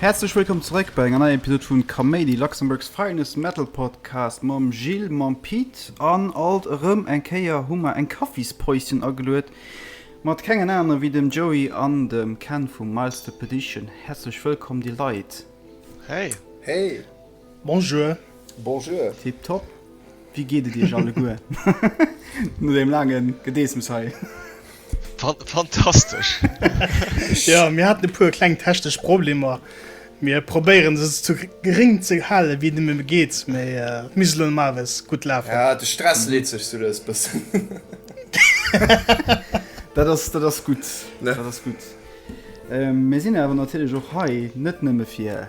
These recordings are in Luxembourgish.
Häerzlech wëllkomm zeréck bei enger neier Episode vun Kaméidi, Luxembourg's finest metal podcast mam Gilles, mam Pete an alt erëm eng Kéier hu mer eng Kaffispäuschen ageluet mat kengen anere wéi dem Joey an dem Ken vum Milestepedition. Häerzlech wëllkomm déi Leit. Hey. Hey. Bonjour. Bonjour. Tip top. Wéi geet et iech alleguer no deem laangen Gedeessems hei? Fantastesch! Jo, mir haten e puer kleng technesch Problemer. Mir probéieren se sou geréng ze halen, wéi et nëmme geet, mee et misst elo normalerweis gutt lafen. Ja, de Stress leet sech sou lous bëssen. Dat ass, dat ass gutt, dat ass gutt. Mir sinn awer natierlech och hei net nëmme fir.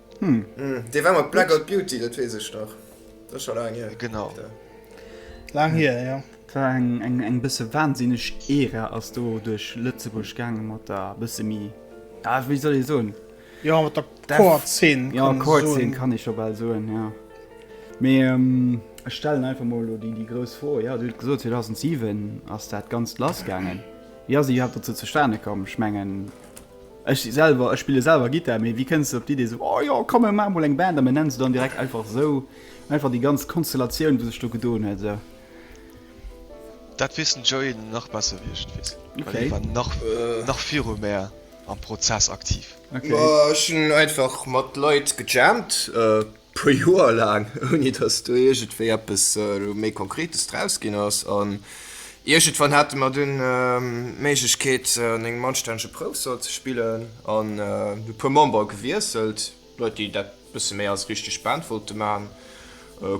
Hm. Mm, Dee war mat Blackout Beauty, dat wees ech nach. Dat ass scho laang hier. Genau. Da. Lang hier, ja. War eng, eng, eng bësse wahnsinneg Ära ass do duerch Lëtzebuerg gaange mat der bësse mi. Ja, wéi soll ee soen? Ja, mat der Def- Chord-Szene. Ja, kann man kurz soen. sinn kann ich schon bald soen, ja. Mee ähm, ech stellen einfach mal lo déi, déi grouss Fro. Ja, du huet gesot 2007 ass dat ganz lass gaangen. Wie ass iwwer dazu zustane komm? Ich mengen, Ech si selwer, ech spille selwer Gittar, mee wéi kënns de op d'Idee esou, oh jo, komm mir maache mol eng Band, a mir nennen se dann direkt einfach esou? Einfach déi ganz Konstellatioun, wou sech do gedoen huet esou. Dat wiers den Joey nach besser wéi ech et wiers, well hie war nach nach viru mär am Prozess aktiv. Ech hunn einfach mat Leit gejammt. puer Joer laang, ouni dass do iergendwéi eppes elo méi Konkretes draus ginn ass. An iergendwann hate mer dunn d'Méiglechkeet, an engem anstännege Proufsall ze spillen, an e puer Membere gewiesselt, Leit, déi dat e bësse méi als richteg Band wollte maachen.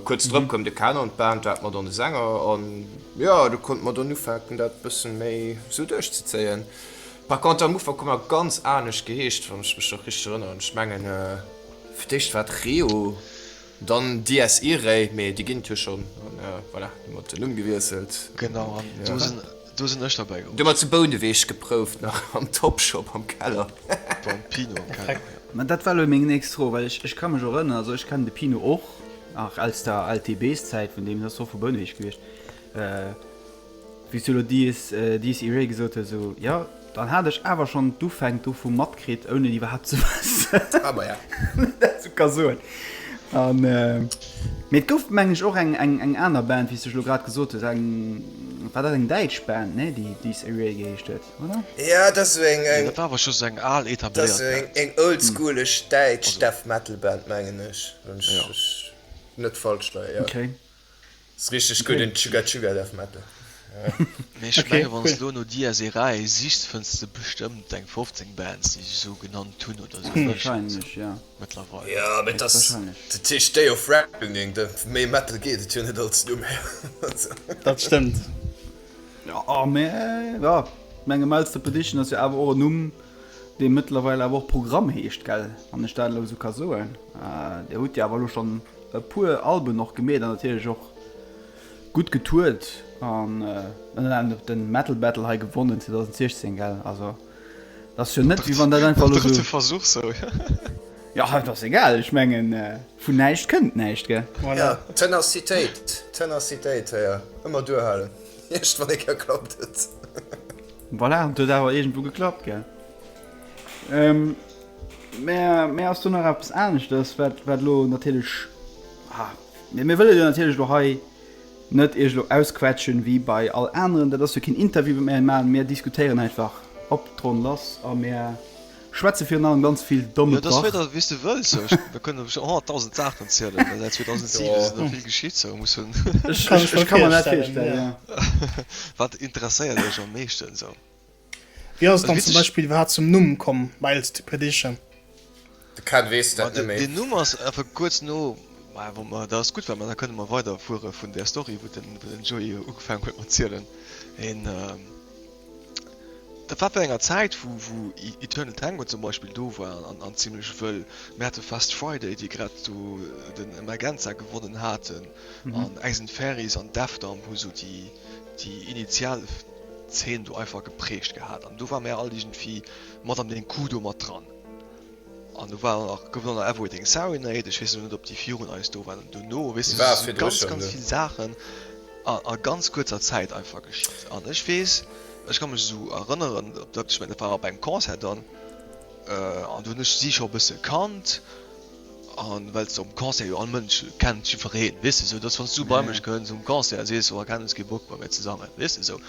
Kuerz drop koum de Ken an d'Band, du hat mer dann e Sänger, an jo, du konnte mer dann ufänken, dat e bësse méi esou duerchzezéien. Par contre, am Ufank hu mer ganz anescht geheescht, wann ech mech nach richteg erënneren. Ech mengen. Fir d'éischt war et Reo, dann DS Irei, mee déi ginn et jo schonn. An voilà, hunn mer den Numm gewiesselt. Genau, an do sinn, do sinn ech derbäi geholl. Du mer zu Bouneweg geprouft, nach am Topshop am Keller. Beim Pino am Keller, jo. Mä dat war elo meng nächst Fro, well ech ka mech erënneren, also ech kennen de Pino och nach aus der LTB-Szäit, vun deem ass och vu Bouneweg gewiescht. Wéi s du elo dies, dies iréi gesot hues, esou, jo, dann hat ech awer schonn d'Ufänk dovu matkritt, ouni et iwwerhaapt ze wëssen. Ah, maja. Dat sou ka soen. An, mee et gouf, mengen ech, och eng, eng, eng aner Band, wéi s du elo grad gesot hues, eng, war dat eng däitsch Band, nee, déi Dies Iréi geheescht huet, oder? Ja, dat ass esou eng, eng. Dat war awer scho sou eng al, etabléiert Band. Dat ass esou eng, eng oldschoolech däitsch Death Metal Band, mengen ech, wann ech, ech net falsch leien, jo. Okay. Ass richteg gudd den Chugga Chugga Death Metal. Mee ech menge wann s lo no dia Serae sichs fënns de bestëmmt eng 15 Bands déi sech esou genannt hunn oder esou héichen se mëttlerweil. Jo mee et ass dat heescht Day of Reckoning, méi Metal geet et jo net als Numm her. Dat stëmmt jo mee jo menge Mouths to Perdition ass jo awer och en Numm dee mëttlerweil awer och Programm heescht gell wann ech dat elo esou ka soen. Dir hutt jo awer elo schonn. E puer Alben och gemeet an natierlech och gutt getourt an ënner anerem och de Metal Battle hei gewonnen 2016 gell also dat ass jo net wéi wann dat einfach elo esou. Versuch sou. Jo et ass egal, ech mengen vun näischt kënnt näischt gell. Voilà. Tenacitéit, Tenacitéit hei ëmmer duerhalen, eescht wann ee kéier klappt et. Voilà, an et huet awer iergendwou geklappt gell. Mä mir ass do nach eppes aneschters, wat wat elo natierlech, ha, mee mir wëlle jo natierlech elo hei net Iech elo ausquetschen wéi bei all aneren. Dat ass jo keen Interview, wat mir hei maachen. Mir diskutéieren einfach op d'Ronn lass a mir schwätze virun allem ganz vill domme Krach. Jo, dat ass wéi der, wéi s du wëlls. Ech, da kënnen ech och nach dausend Saachen erzielen, well säit 2007 sinn der vill geschitt, sou muss hunn. Ech kann mer dat virstellen, jo. Wat interesséiert Iech am meeschten sou? Wéi ass et dann zum Beispill iwwerhaapt zum Numm komm Miles to Perdition? De Ken weess dat net méi. Den Numm ass einfach kuerz no, mä wa mer, dat ass gutt, well mer da kënne mer weider fuere vun där Story, wou den, wou den Joey ugefaangen huet mat zielen. En, dat war wärend enger Zäit, wou, wou Eternal Tango zum Beispill do war an, an zimlech wëll. Mir hate Fast Friday, déi grad do den Emergenza gewonnen haten an Ace and Fairies an Defdom hu sou déi, déi initial. Zeen do einfach gepreecht gehat an do war mär all iergendwéi mat an dee Coup do mat dran. An do war nach, gouf nach Everything Serenade, ech weess elo net op déi virun eis do waren. An dono, weess de, si sou ganz ganz vill Saachen a ganz kuerzer Zäit einfach geschitt. An ech weess, ech ka mech esou erënneren, dat war op engem Concert dann, an do hunn ech si scho e bësse kannt, An well se um Concert jo all Mënsch kennt, jifereen, weess de esou, dass wann s du bei mech kënns um Concert, sees, oh, keng, hues kee Bock bei mir ze sangen, weess de esou.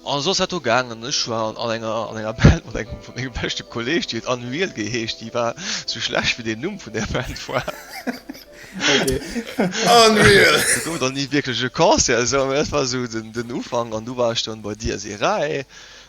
An esou ass dat do gaangen, ech war an enger an enger Band mat engem vu mengem beschte Kolleeg, déi huet Annuiel geheescht, déi war esou schlecht wéi den Numm vun där Band war. Annuiel! Du gouf et dann ni wierklech e Concert esou, mä dat war esou den Ufank an du war ech dann bei dir, Seray.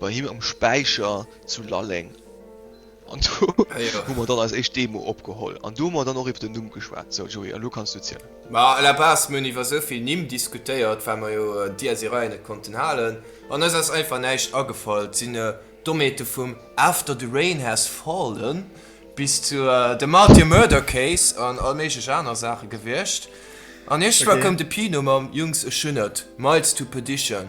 Bei him am Späicher zu Lalleng. An do hu mer dann eis éischt Demo opgeholl. An do hu mer dann och iwwer den Numm geschwat. Sou, Joé, elo kanns du zielen. Ma à la base, mir hunn iwwer esou vill Nimm diskutéiert, well mer jo Dies Irae net konnten halen. An eis ass einfach näischt agefall. Et sinn Domäte vum After the Rain Has Fallen bis zu The Martyr Murder Case an all méiglech aner Saache gewiescht. An iergendwa koum de Pino mam, Jungs, ech hunn et, Miles to Perdition.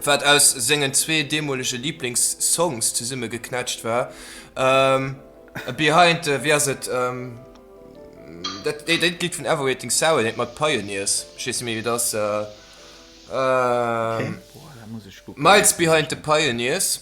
wat aus sengen zwee deemolege Liblingssongs zesummegeknetscht war. Ähm, a Behind, äh, wéi ass et? Ähm, dat, dé, dat Lidd vun Everything Sour, dat mat Pioneers, ech weess net méi wéi et ass. Äh, ähm, Boah, da muss ech kucken. Miles Behind the Pioneers.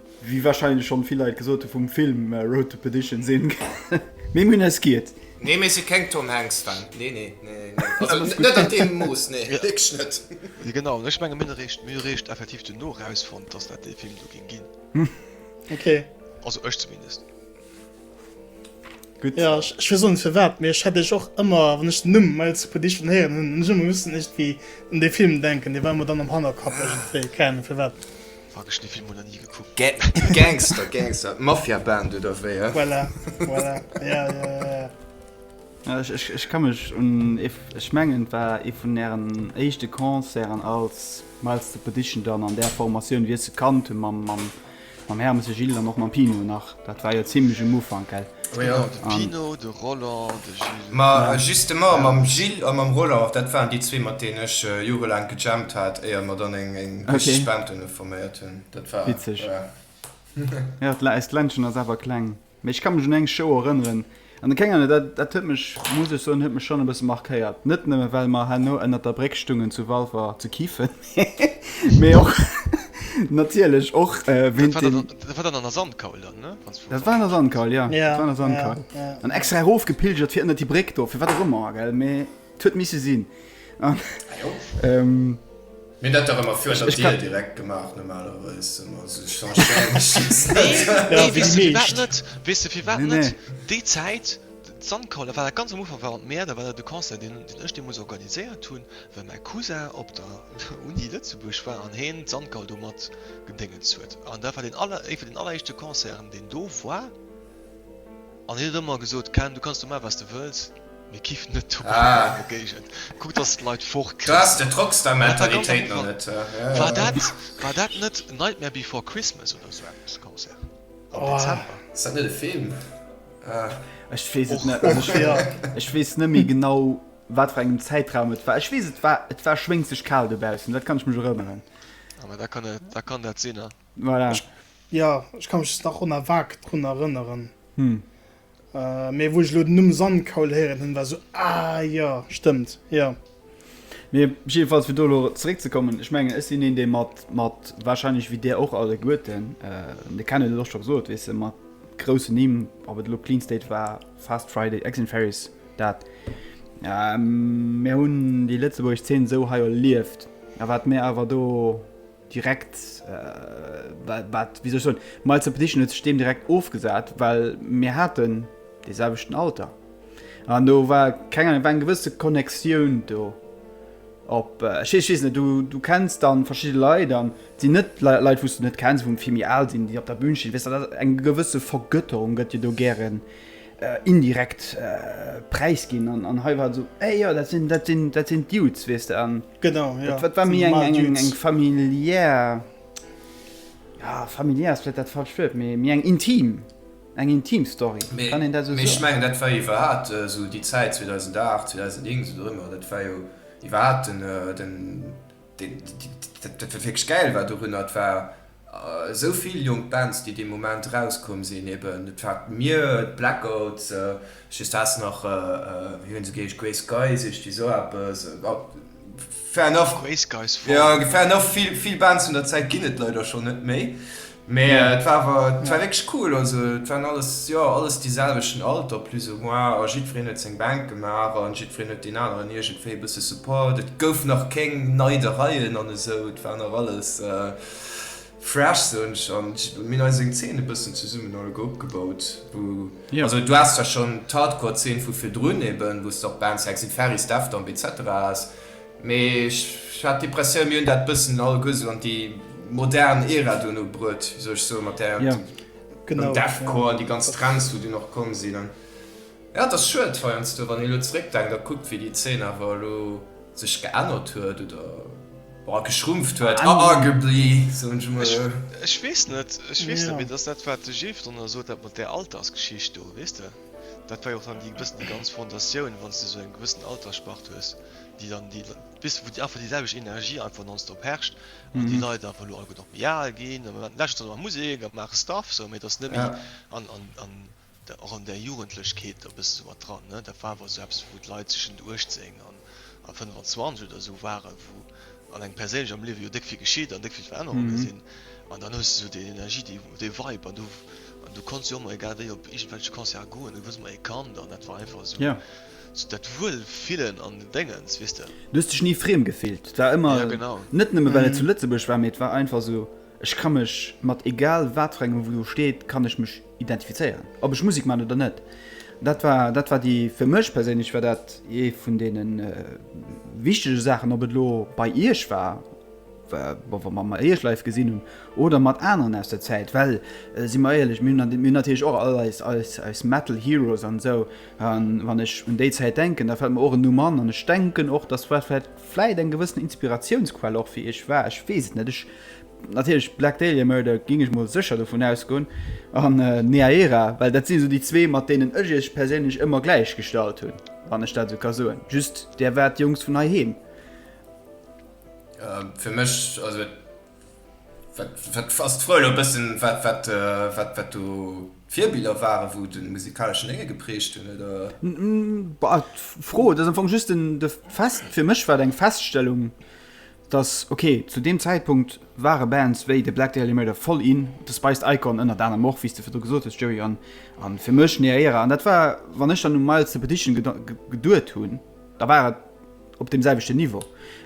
Wéi wahrscheinlech schon vill Leit gesot hun vum Film Road to Perdition sin méi Munners giet. Nee mir si keng Tom Hanks Fan, nee nee nee also net an deem Mooss nee wierklech net. Jo genau an ech mengen mir hun eréischt effektiv duerno erausfonnt dass dat dee Film do géing gin, also ech zumindest. Gutt. Ja, ech, ech weess och net firwat, mee ech hat iech och ëmmer, wann ech den Numm Miles Expedition héieren, hunn ech ëmmer missen iergendwéi un dee Film denken. Dee war mer dann am Hannerkapp iergendwéi, keng Ahnung firwat. Fuck, ech hunn dee Film mol nach ni gekuckt. Ga Gangster, Gangster, d'Mafia-Band oder wéi, hä? Voilà, voilà, ja, ja, ja, ja. Ja, ech, ech, ech ka mech un ee v, ech mengen et war ee vun ären éischte Concerten als Miles Expedition dann an där Formatioun, wéi ech se kannt hunn, mam, mam Mam Hermes, de Gilles an och mam Pino nach. Dat war jo zimlech um Ufank, gell? Oh jo, de Pino, de Roland, de Gilles. Ma justement, mam Gilles a mam Roland, dat waren déi zwee, mat deenen ech jorelaang gejammt hat, éier mer dann eng richteg Band dono forméiert hunn. Dat war, ja. Witzeg. Jo, eist Ländchen ass awer kleng. Mee ech ka mech un eng Show erënneren, an de Kéier, dat, dat huet mech, muss ech soen, huet mech schonn e bësse markéiert. Net nëmme well mer herno ënnert der Bréck stungen zu Walfer ze kiffen, mee och, natierlech och wéint deem. Dat war dann an der Sandkaul dann, ne? Dat war an der Sandkaul, jo. Dat war an der Sandkaul. An extra erofgepilgert fir ënnert déi Bréck do, fir wat och ëmmer, gell, mee. Et huet misse sinn. Mir hunn dat dach ëmmer virun der Dier direkt gemaach normalerweis. Nee, weess de firwat net? Weess de firwat net? Déi Zäit, d'Sandkaul, dat war dat ganz am Ufank, war an d'Mäert, da war dat e Concert, deen ech deemools organiséiert hunn, well mäi Cousin op der Uni Lëtzebuerg war an heen d'Sandkaul do mat gedéngens huet. An dat war deen aller, ee vun den alleréischte Concerten, deen do war. An hien huet ëmmer gesot, Ken, du kanns domat, wat s de wëlls, mee kiff net domat an der Mengen Géigend. Kuck, dass s d'Leit fort kriss. Krass, dat rocks dei Mentalitéit nach net. War dat, war dat net Nightmare Before Christmas oder esou eppes, de Concert am Dezember? Ass dat net e Film? Ech weess et net. Also, ech weess, ech weess net méi genau, wat fir engem Zäitraum et war. Ech weess, et war, et war schwéngzeg kal dobaussen, dat kann ech mech erënneren. Ah, mä da kann et, da kann dat sinn, a. Voilà. Ech, ja, ech kann mech nach on a vague drun erënneren. Hm. Äh, mee wou ech lo den Numm Sandkaul héieren hunn, war sou, ah jo, stëmmt, jo. Mee jiddefalls, fir do elo zeréckzekommen, ech mengen, ech sinn een, dee mat, mat warscheinlech wéi Dir och alleguerten, äh, de Kenneth huet et och scho gesot, weess de, mat groussen Nimm, ob et elo Clean State war, Fast Friday, Eggs and Fairies, dat. Ähm, mir hunn déi lëtzebuergesch Zeen esou hei erlieft, a wat mir awer do, direkt wat wéi soll ech soen, d'Miles of Perdition huet sech deem direkt ofgesat, well mir haten dee selwechten Alter an do war keng Ahnung, et war eng gewësse Connectioun do. Op ech weess, ech weess net, du, du kenns dann verschidde Leit an et sinn net Leit wou s de net kenns, wou vill méi al sinn, déi op der Bühn stinn, weess de, dat eng gewësse Vergötterung gëtt jo do gären indirekt präisginn an hei war et esou, éh jo, dat sinn, dat sinn, dat sinn d'Dudes, weess de. Genau, ja. Dat war méi eng familiär, ja, familiär ass vläicht dat falscht Wuert, mee méi eng intim, eng intim Story. Kann een dat esou soen? Mee ech mengen, dat war iwwerhaapt esou déi Zäit, 2008, 2009, esou dorëmmer, dat war jo iwwerhaapt den, dat wat wierklech gäil war dorunner, dat war, esou vill jonk Bands déi dee Moment erauskomm sinn, eben et war d'Myr, d'Blackouts, just haas nach wéi hunn se geheesch, Grey Skies, ichti sou eppes, fair enough, Grey Skies, voll, fair enough, vill vill Bands vun der Zäit ginn et leider schonn net méi, mee et war awer et war wierklech cool, also et waren alles jo alles dee selwechten Alter plus ou moins a jiddwereen huet seng Band gemaach an jiddwereen huet deen aneren iergendwéi e bësse support, et gouf nach kéng Neidereien an esou, et war nach alles. Fresh soen ech an mir eis eng Zeen e bëssen zesummen all opgebaut wou also du has da schon d'Hardcore Zeen vu virdrun eben wou och Band Sexy Ferris, Deftomb etc has mee ech hat d'Impressioun mir hunn dat bëssen all guer sou an déi modern Era duerno bruet wéi sou ech soe mat der dem Deathcore an déi ganz Trends wou dunn och komm sinn an jo et ass schued heiansdo wann een elo zeréck denkt a kuckt wéi déi Zeen awer elo Sech geännert huet oder geschrumpft huet. Arguably, soen ech emol. Ech weess net, ech weess net méi. Dat ass dat, wat de Jeff drënner sot, dat mat där Altersgeschicht do, weess de. Dat war jo och dann déi e bëssen déi ganz Fondatioun, wann s de esou eng gewëssen Altersspart hues, déi dann déi, weess de, wou einfach déi selwecht Energie einfach nonstop herrscht an déi Leit einfach elo alleguer nach méi al ginn. Am Moment, lech ass et dann nach Musek a maache Stuff, sou, mee et ass net méi an, an, an. och an där Jugendlechkeet e bësse sou mat dran, ne, dat war awer sou eppes, wou d'Leit tëschent 18 an 25 oder sou waren, wou an engem perséinlech am Liewe jo déck vill geschitt an déck vill Verännerunge sinn, an dann hues de sou déi Energie, déi, dee Vibe, an du, an du konnts jo ëmmer egal wéi op iergendwelche Concerte goen, du wars ëmmer ee Kand an dat war einfach sou dat Wuelfillen an Déngens, weess de. Du hues dech ni friem gefillt, et war ëmmer, net nëmme well et zu Lëtzebuerg war, mee et war einfach sou, ech ka mech mat egal wat fir engem, wou do steet, kann ech mech Identifizéieren, ob ech Musek man oder net. Dat war, dat war déi, fir mech perséinlech war dat ee vun deene wichtege Saachen, ob et elo bei Iech war, wa mer mer Iech live gesinn hunn oder mat aneren aus der Zäit. Well, si mer éierlech, mir hunn, mir hunn natierlech och all eis, eis, eis Metal Heroes an esou. A wann ech un déi Zäit denken, da fält mer och en Numm an. An ech denken och, dass dat vläicht, vläicht eng gewëssen Inspiratiounsquell och fir Iech war, ech weess et net. Ech. Natierlech Black Dahlia Murder géing ech mol sécher dovun ausgoen an Neaera, well dat sinn esou déi zwee mat deenen ech iech perséinlech ëmmer gläich gestallt hunn, wann ech dat esou ka soen. Just där war d'Jongs vun heiheem. Fir mech, also wat ass d'Fro elo e bëssen, wat do d'Virbiller waren, wou de musikaleschen Lénge geprägt hunn oder? Bah, d'Fro, et ass am Fong just de Fest, fir mech war et eng Feststellung, dass ok zu deem Zäitpunkt ware Bands wéi de Black Dahlia Murder voll in, de Spiced Icon ënnert anerem och, wéi s de virdru gesot hues Joey, an a fir mech Nea Era. An dat war, wann ech dann u Miles the Petition geduet hunn, da war et op deem selwechten Niveau.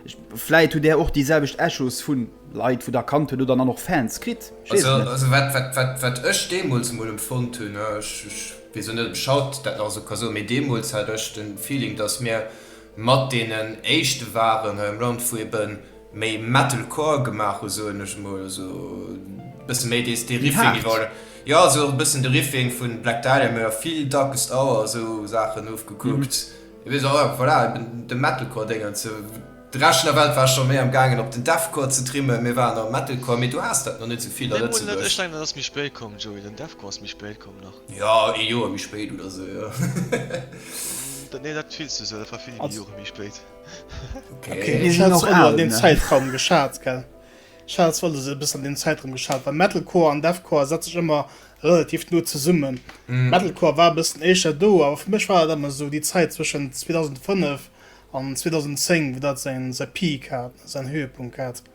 Ech, vläit hutt Där och déi selwecht Echos vu Leit, wou Der kannt hutt, oder dann och Fans kritt, ech weess et net. Also wat ech deemools emol empfonnt hunn, ech weess och net, ob ech haut dat nach esou ka soen, mee deemools hat ech de Feeling, dass mir, Mat deenen éischte waren hei am Land wou ebe méi Metalcore gemaach hu soen ech mol, also bësse méi dees dee Riffing iwwer oder jo also och e bëssen de Riffing vun Black Dahlia mä jo vill Darkest Hour a sou Saachen ofgekuckt. Et weess och einfach voilà eben de Metalcore Déng an sou. De Rescht vun der Welt war scho méi am gaangen op den Deathcore ze trimmen, mir waren am Metalcore, mee do haas dat nach net sou vill a Lëtzebuerg. Ech denken dat ass méi spéit komm Joey, den Deathcore ass méi spéit komm. nach. Jo, ee Joer méi spéit oder sou, jo. Nee, dat fills du sou, dat war vill Joer méi spéit. Okay, déi sinn och al, ne? Den Zäitraum geschat, gell? Ech hat zwar alles e bëssen an deem Zäitraum geschat, well Metalcore an Deathcore setzt sech ëmmer relativ no zesummen. Metalcore war e bëssen éischer do, awer fir mech war dat ëmmer sou déi Zäit zwëschen 2005 an 2010, wou dat säin Peak hat, säin Höhepunkt hat.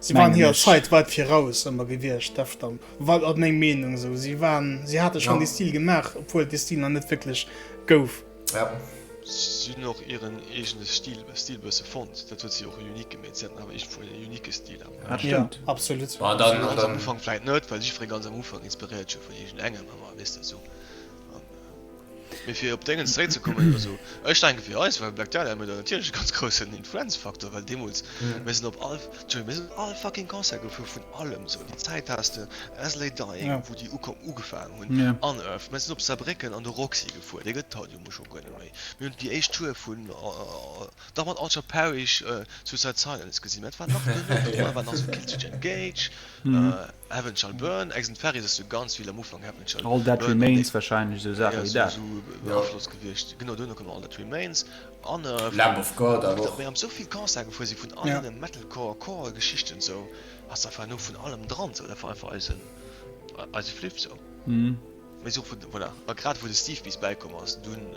Si waren hirer Zäit weit viraus ëmmer gewiescht, deft an weit ass meng Meenung esou. Si waren, si hate schonn dee Stil gemaach, obwuel et dee Stil nach net wierklech gouf. Si hunn och hiren eegene Stil Stil bësse fonnt, dat huet si och unique gemeet. Si haten awer iergendwou en unique Stil am Ufank. Jo, absolut. Bon, dann ganz am Ufank vläit net, well jiddweree ganz am Ufank inspiréiert sech jo vun iergendengem ëmmer, weess de esou. Mee fir op Déngens zréckzekommen, also ech denke fir eis war Black Dahlia Murder natierlech e ganz groussen Influenzfaktor, well deemools, mir sinn op all, Entschuldigung, mir sinn op all fucking Concert gefuer vun allem esou. Déi Zäit has de As Lay Dying, wou déi ukomm, ugefaangen hunn, Unearth, mir sinn op Saarbrécken an de Roxy gefuer, dee gëtt et haut jo mol scho guer net méi. Mir hunn déi éischt Tour vun. Dach mat Altered Parish, Suicide Silence gesi, mä et war nach genuch dran, et war nach sou Killswitch Engage, Heaven Shall Burn, Accent Paris ass jo ganz vill am Ufank, Heaven Shall Burn, All That Remains wahrscheinlech, sou Saache wéi dat. Esou Afloss gewiescht, genau duerno koum All That Remains an Lamb of God awer och. Mir am sou vill Concerten gefuer si vun all deene Metalcore, Core Geschichten sou, ass einfach elo vun allem dran sou, dat war einfach eisen, eise Fliff sou. Mee sou vu voilà, a grad wou de Steve bis bäikomm ass, dunn.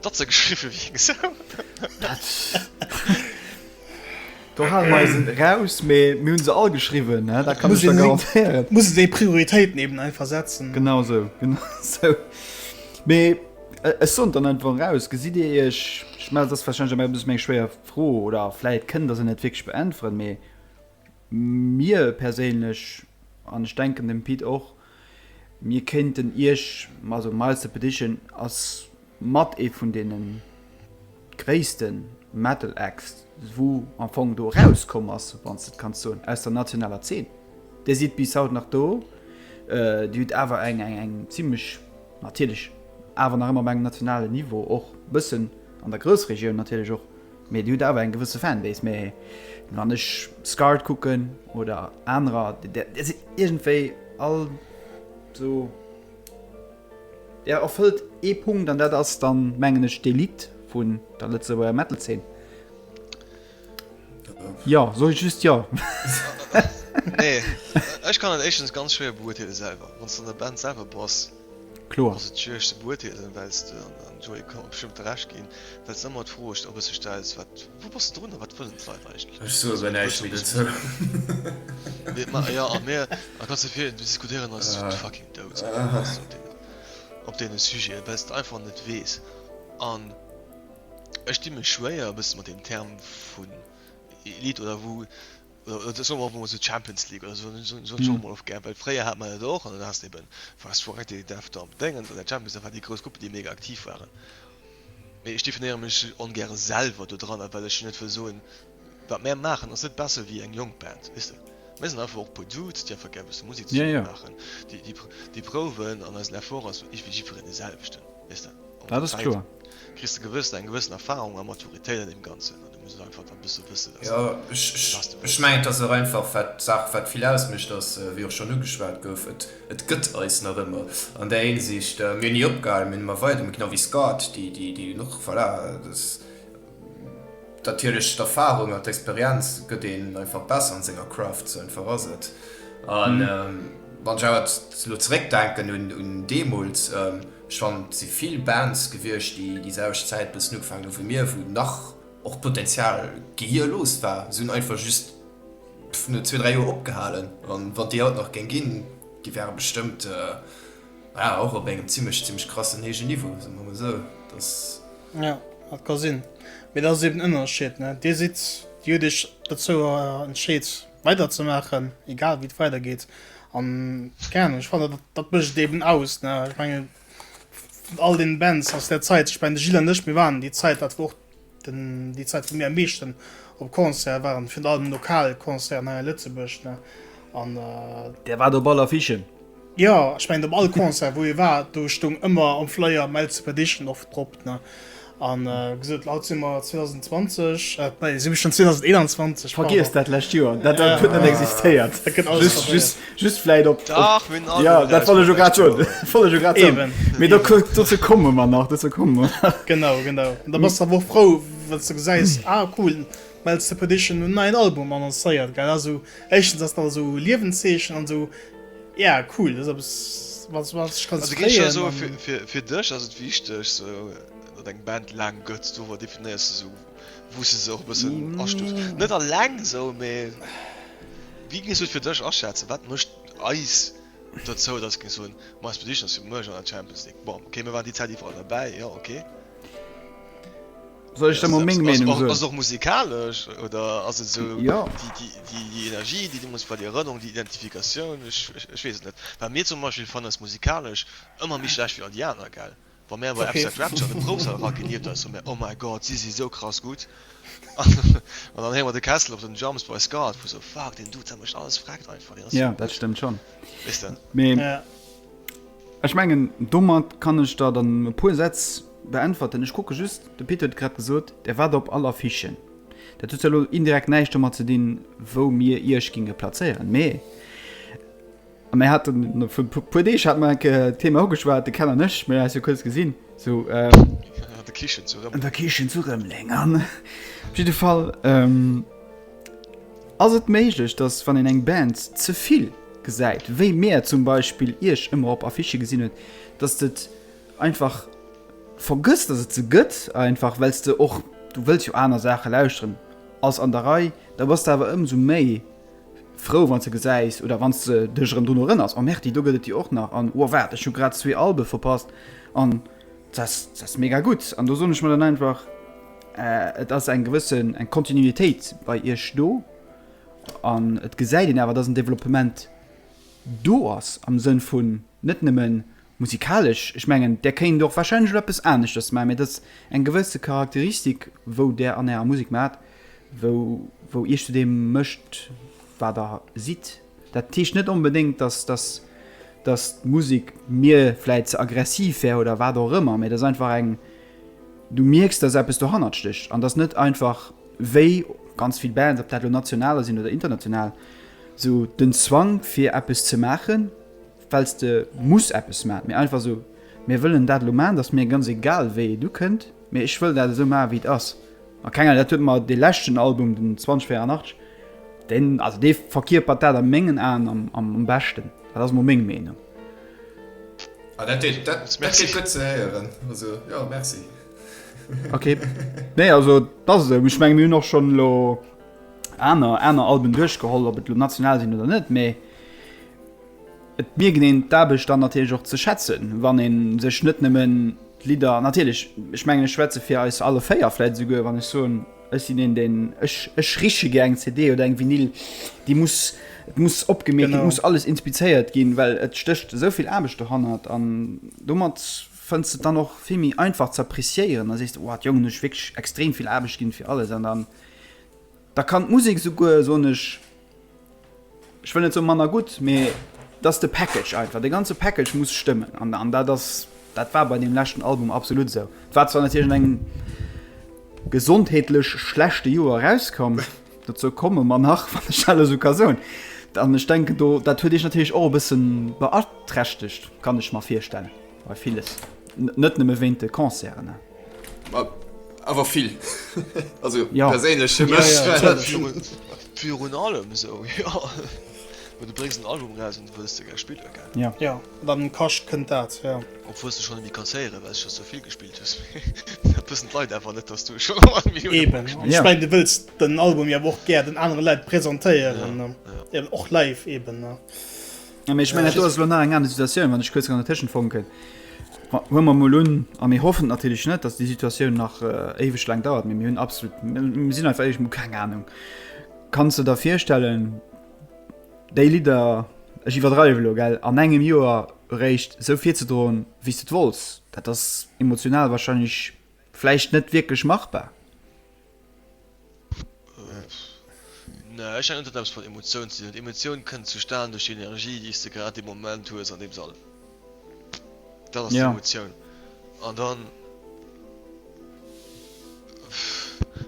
Dat se geschriwwe wéi eng Sau. Dat. Do hale mer eisen eraus, mee mir hunn se all geschriwwen, ne? Dat kann ech der garantéieren. Et muss een déi Prioritéiten eben einfach setzen. Genau sou, genau sou. Mee ech soen et dann einfach eraus, gesitt Dir Iech, ech mengen dat ass warscheinlech elo eppes méi eng schwéier Fro oder vläit kënnt Der se net wierklech beäntweren, mee mir perséinlech, an ech denken dem Pit och, Mir kéinten Iech, also Miles the Petition ass mat ee vun deene gréisste Metal Acts, wou am Fong do erauskomm ass, wann s de et kanns soen, aus der nationaler Zeen. Dir sidd bis haut nach do, Dir hutt awer eng zimlech, natierlech awer nach ëmmer op engem nationalen Niveau, och e bëssen an der Groussregioun natierlech och, Mee dir hutt awer eng gewësse Fanbase, mee wann ech Scarred kucken oder anerer, där sidd iergendwéi all sou, där erfëllt ee Punkt an dat ass dann, mengen ech, d'Elite vun der Lëtzebuerger Metal-Zeen. Jo, soe just jo. Nee, ech kann et éischtens ganz schwéier beuerteele selwer, wann s de an der Band selwer bass. Kloer. Ass et schwiereg ze beurteelen, well s de, an de Joé ka mer bestëmmt Recht ginn, well s de ëmmer d'Fro iech e bësse stells, wat, wou bass de drun a wat wëllen d'Leit eigentlech? Ech soe bei näischt méi dozou. Jo, a mir, a kanns de virstellen, diskutéieren eis fucking dout op deene Sujeten, well s de einfach net weess. An ech di mech schwéier e bësse mat deem Term vun Elite, oder wou Oder soen mer einfach emol esou d'Champions League oder esou, hunn hunn ech och emol ofgehäit, well fréier hat mer dat och an dann haas de eben, war es d'Soirée Télé Dev do am Déngens, an der Champions League, dat war déi grouss Gruppen, déi méga aktiv waren. Mee ech definéiere mech ongäre selwer do dran, well ech jo net wëll soen, wat mär maachen ass net besser wéi eng jonk Band, weess de. Mir sinn einfach och e puer Dudes, déi einfach gär e bësse Musek zesummen maachen, déi prouwen an eisen Effort ass iwwel jiddwereen dee selwechten. Dat ass kloer. Jo, ech mengen, et ass och einfach wat d'Saach wat vill ausmécht ass, wéi och schonn ugeschwat gouf, et gëtt eis nach ëmmer an där Hinsicht. Mir hunn ni opgehalen, mir hunn ëmmer weider, genau wéi Scott, déi hunn och, voilà, Dat duerch d'Erfahrung an d'Experienz gëtt een einfach besser an senger Craft, sou en Verrasert. An wann ech awer lo zeréck denken un deemools, ech fannen et si vill Bands gewiescht déi déi selwecht Zäit bëssen ugefaangen hu wéi mir, wou nach och Potenzial gehierlos war. Si hunn einfach just no zwee, dräi Joer opgehalen. An wann et déi haut nach géing ginn, déi wäre bestëmmt. Naja, och op engem zimlech, zimlech krassen héije Niveau, soe mer mol esou. Dass. Jo, dat ka sinn. Mee dat ass eben den Ënnerscheed, ne? Dir sidd, Dir hutt Iech dozou entscheet, weiderzemaachen, egal wéi et weidergeet. An, keng Ahnung, ech fannen, dat, dat mécht et eben aus, ne? Ech mengen, vun all deene Bands aus där Zäit, ech mengen, de Gilles an ech, mir waren déi Zäit, dat war och Déi Zäit wou mir am meeschten op Concert waren, virun allem lokal Concerten hei a Lëtzebuerg ne an. Der waart op all Affichen? Jo, ech mengen op all Concert wou ee war, do stoung ëmmer am Flyer My Ltze Perdition oft drop ne an gesot haut si mer 2020, nee si mir schonn 2021. Vergiesst dat lescht Joer, dat huet net existéiert. Just vläit op. Dach, mir hunn all. Jo, dat wollt ech jo grad soen. Wollt ech jo grad soen. Eben. Mee do kuckt, dozou komme mer nach, dozou komme mer nach. Genau, genau. An da bass de awer och frou, wann s de gesäis, ah cool, Mel's Repetition hunn en neien Album annoncéiert, gell. Also éischtens ass dat awer esou e Liewenszeechen an esou, yeah, cool, dat ass eppes, wat, wat ech kann zefréien. Also géif ech scho soen, fir, fir, fir dech ass et wichteg, sou datt eng Band laang gëtt, dober definéiers de esou. Wou se se och e bëssen astufft. Net alleng esou, mee wéi géings du et fir dech aschätzen, wat mécht eis dozou, datt géings soen, ma eis Prediction ass fir muergen an der Champions League? Bon, okay, mir waren déi Zäit iwwerall derbäi, jo, okay. Soll ech der mol meng Meenung soen? Ass et och musikalesch oder ass et esou déi Energie, déi deemools war, déi Erënnerung, déi Identifikatioun? Ech weess et net. Well mir zum Beispill fannen eis musikalesch ëmmer méi schlecht wéi all déi aner, gell? Wa mär bei Episode Rapture an de Proufsall eragelieft ass, hu mär, Oh my God, si si sou krass gutt! An dann héiere mer de Kessel op den Drums bei Scarred, wou sou, Fuck, deen Dude, dat mécht alles frekt einfach, deen ass sou gutt! Ja, dat stëmmt schonn. Weess de? Mee ech mengen, domat kann ech der dann e puer Sätz beäntwerten. Ech kucke just, de Pit huet grad gesot, Der waart op all Affiche. Dat huet jo elo indirekt näischt domat ze dinn, wou mir Iech ginge plazéieren. Mee Mir haten vu puer Deeg hat mer enke Thema ugeschwat, de Ken an ech, mir eis jo kuerz gesinn, sou an der Kichen zu Rëmeleng, an der Kichen zu Rëmeleng an op jidde Fall ähm ass et méiglech, datt wann een eng Band ze vill gesäit, wéi mir zum Beispill iech ëmmer op Affichë gesinn huet, datt de et einfach vergësst, datt et se gëtt, einfach well s de och, du wëlls jo aner Saache lauschteren, ass an der Rei, da bass de awer ëmsou méi frou wanns de gesäis oder wanns de dech erëm drun erënners, oh merti, do gëtt et déi och nach an oh waart ech hu grad zwee Albe verpasst an das das mega gutt an do soen ech mer dann einfach et ass eng gewëssen eng Kontinuitéit bei iech do an et gesäit een awer dass en Developpement do ass am Sënn vun net nëmme musikalesch, ech mengen där kéint och warscheinlech elo eppes aneschters maachen, mä et ass eng gewësse Charakteristik wou där an ärer Musek maacht, wou wou iech zu deem mécht wat der sidd. Dat heescht net onbedéngt, datt datt datt d'Musek mir vläit ze aggressiv wär oder wat och ëmmer, mä et ass einfach eng, du mierks datt eppes dohannert stécht an datt net einfach wéi ganz vill Bands, ob dat elo nationaler sinn oder international, esou den Zwang fir eppes ze maachen, well s de muss eppes maachen, mee einfach esou, mir wëllen dat elo maachen, et ass mir ganz egal wéi do kënnt, mee ech wëll dat esou maachen wéi et ass. A kenger, dat huet mer dee leschten Album, den 2084, deen, also dee verkierpert dat a mengen Aen am am beschten, dat ass elo meng Meenung. Ah dat deet, dat deet gutt ze héieren, also jo merci. Ok, nee also et ass esou, ech menge mir hunn och schonn elo aner aner Alben duerchgeholl, ob et elo national sinn oder net, mee. Et mierken een d'Aarbecht dann natierlech och ze schätzen, wann ee sech net nëmmen d'Lidder, natierlech, ech mengen ech schwätze fir eis alle véier vläit esouguer, wann ech soen, ech sinn een deen, ech ech riche gär eng CD oder eng Vinyl, déi muss, et muss opgemierkt ginn, et muss alles inspizéiert ginn, well et stécht esou vill Aarbecht dohannert an domat fënns de et dann och vill méi einfach ze appreciéieren a sees, wow, d'Jongen hu sech wierklech extrem vill Aarbecht ginn fir alles an dann Da kann d'Musek souguer, soen ech, ech wëll net soen manner gutt, mee et ass de Package einfach, de ganze Package muss stëmmen. An dat ass, dat war bei deem leschten Album absolut esou. Et war zwar natierlech an engem gesondheetlech schlechte Joer erauskomm, dozou komme mer nach, wann ech dat elo esou ka soen. An ech denken do, dat huet iech natierlech och e bësse beaträchtegt, kann ech mer virstellen. Bei villes. Net nëmme wéint de Concerten. Awer vill. Also jo. Perséinlech fir mech. Jo, jo, jo. Virun allem esou, jo. Well du bréngs en Album eraus an du wëlls de gär spille gell. Jo. Jo, wann en kascht, kënnt dat, jo. Obwuel s du schonn e méi kanns héieren, well s scho sou vill gespilt hues. Mee dat wëssen d'Leit awer net, dass du schonn ëmmer Milliounen Mol gespilt hues. Eben. Ech mengen, du wëlls den Album jo awer och gär den anere Leit presentéieren. Jo, jo. Eben och live eben, ne. Ja, ech mein, do ass lo nach eng aner Situatioun, wann ech kuerz an der Tëschen fonken. Hu mer mol un a mir hoffen natierlech net, datt déi Situatioun nach äh, éiweg laang dauert, mir hunn absolut sinn einfach eich mo keng Ahnung. Kanns du der virstellen, déi Lidder ech iwwerdreiwe lo gell an engem Joer eréischt esou virzedroen, wéi s du et wolls? Dat ass emotional wahrscheinlech vläicht net wierklech machbar. Nee, ech mengen net dat eppes mat Emotioun ze dinn huet. Emotioun kënnt zu stan duerch déi Energie déi s de grad dee Moment hues an deem Sall. Dat ass d'Emotioun. An dann,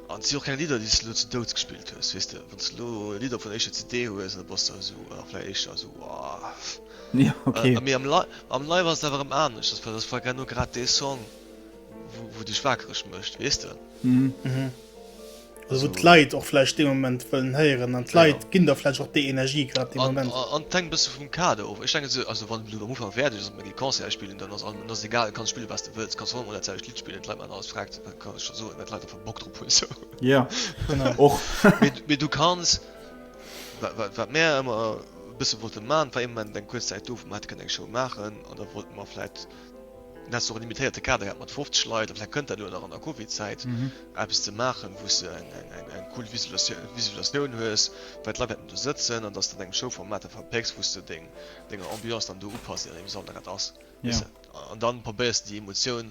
an et si och keng Lidder déi s de elo zu Douds gespillt hues, weess de. Wann s de elo Lidder vun der éischter CD hues an da bass de esou, oder vläicht éischter esou, wow. Mee am Live ass et awer erëm anescht, dat ass, well dat ass vläicht genau grad dee Song. wou dech wakereg mëscht wees de wou d'Leit och vläicht dee Moment wëllen héieren an d'Leit ginn der vläicht och déi Energie grad dee Moment. An et hänkt e bësse vum Kader of. Ech denke also wann elo am Ufank wäert ech ass, mer gi Concerte spillen, dann ass allem, dann ass egal, kanns spille wat s de wëlls, kanns hei mol dat selwecht Lidd spillen, d'Leit maachen alles frag ze, kann ech der soen, well d'Leit einfach Bock drop hunn esou. Jo, genau och. Mee du kanns, wat mär ëmmer e bësse wollte maachen, et war ee Moment eng kuerz Zäit do wou mer hätte kënnen eng Show maachen an da wollte mer vläicht Du häss och e limitéierte Kader gehat mat 50 Leit, a vläicht kënnt dat elo nach an der Covid-Zäit, eppes ze maachen, wou s de eng cool Visualisatioun hues, wei d'Leit wäerten do sëtzen, an datt s de dat engem Show-Format da verpécks, wou s de deng Ambiance dann do upasst, je nodeem, wéi alt dat ass, weess de. An da probéiers de déi Emotioun.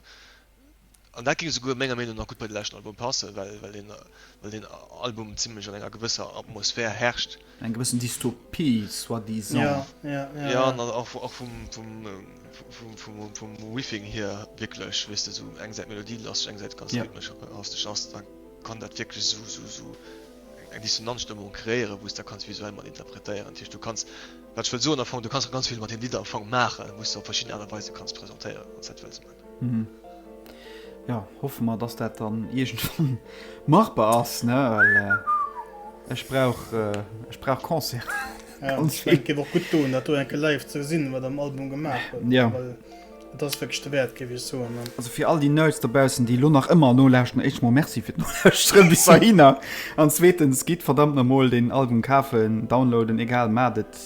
An dat géing esouguer menger Meenung nach gutt bei de leschten Album passen, well deen Album zimlech an enger gewësser Atmosphär herrscht. Eng gewëssen Dystopie, soit disant. Jo, an och vum Riffing hier wierklech, weess de, esou eng Säit melodielasseg, eng Säit ganz rhythmesch hastesch ass, da kann dat wierklech esou eng Dissonanzstëmmung kreéieren, wou s de dat kanns visuell mat interpretéieren. Dat heescht, du kanns, wat ech wëll soen am Fong, du kanns och ganz vill mat deem Lidd am Fong maachen, wou s de op verschidden Aart a Weise kanns presentéieren, wann s dat wëlls. Mhm. Jo, hoffe mer, dass dat dann iergendwann machbar ass, ne? Well äh, ech brauch, äh, ech brauch Concerte. Ja, Ganz ich mein, et gëtt och gutt doen, dat do enke live ze gesinn, wat am Album gemaach huet. Ja. Well et ass wierklech de Wäert, géif ech soen. Ne? Also fir all déi Nerds dobaussen, déi lo nach ëmmer nolauschten, éischt mol Merci fir d'Nolauschteren bis dahinner. An zweetens, gitt verdammt namol den Album kafen, downloaden, egal, mat et.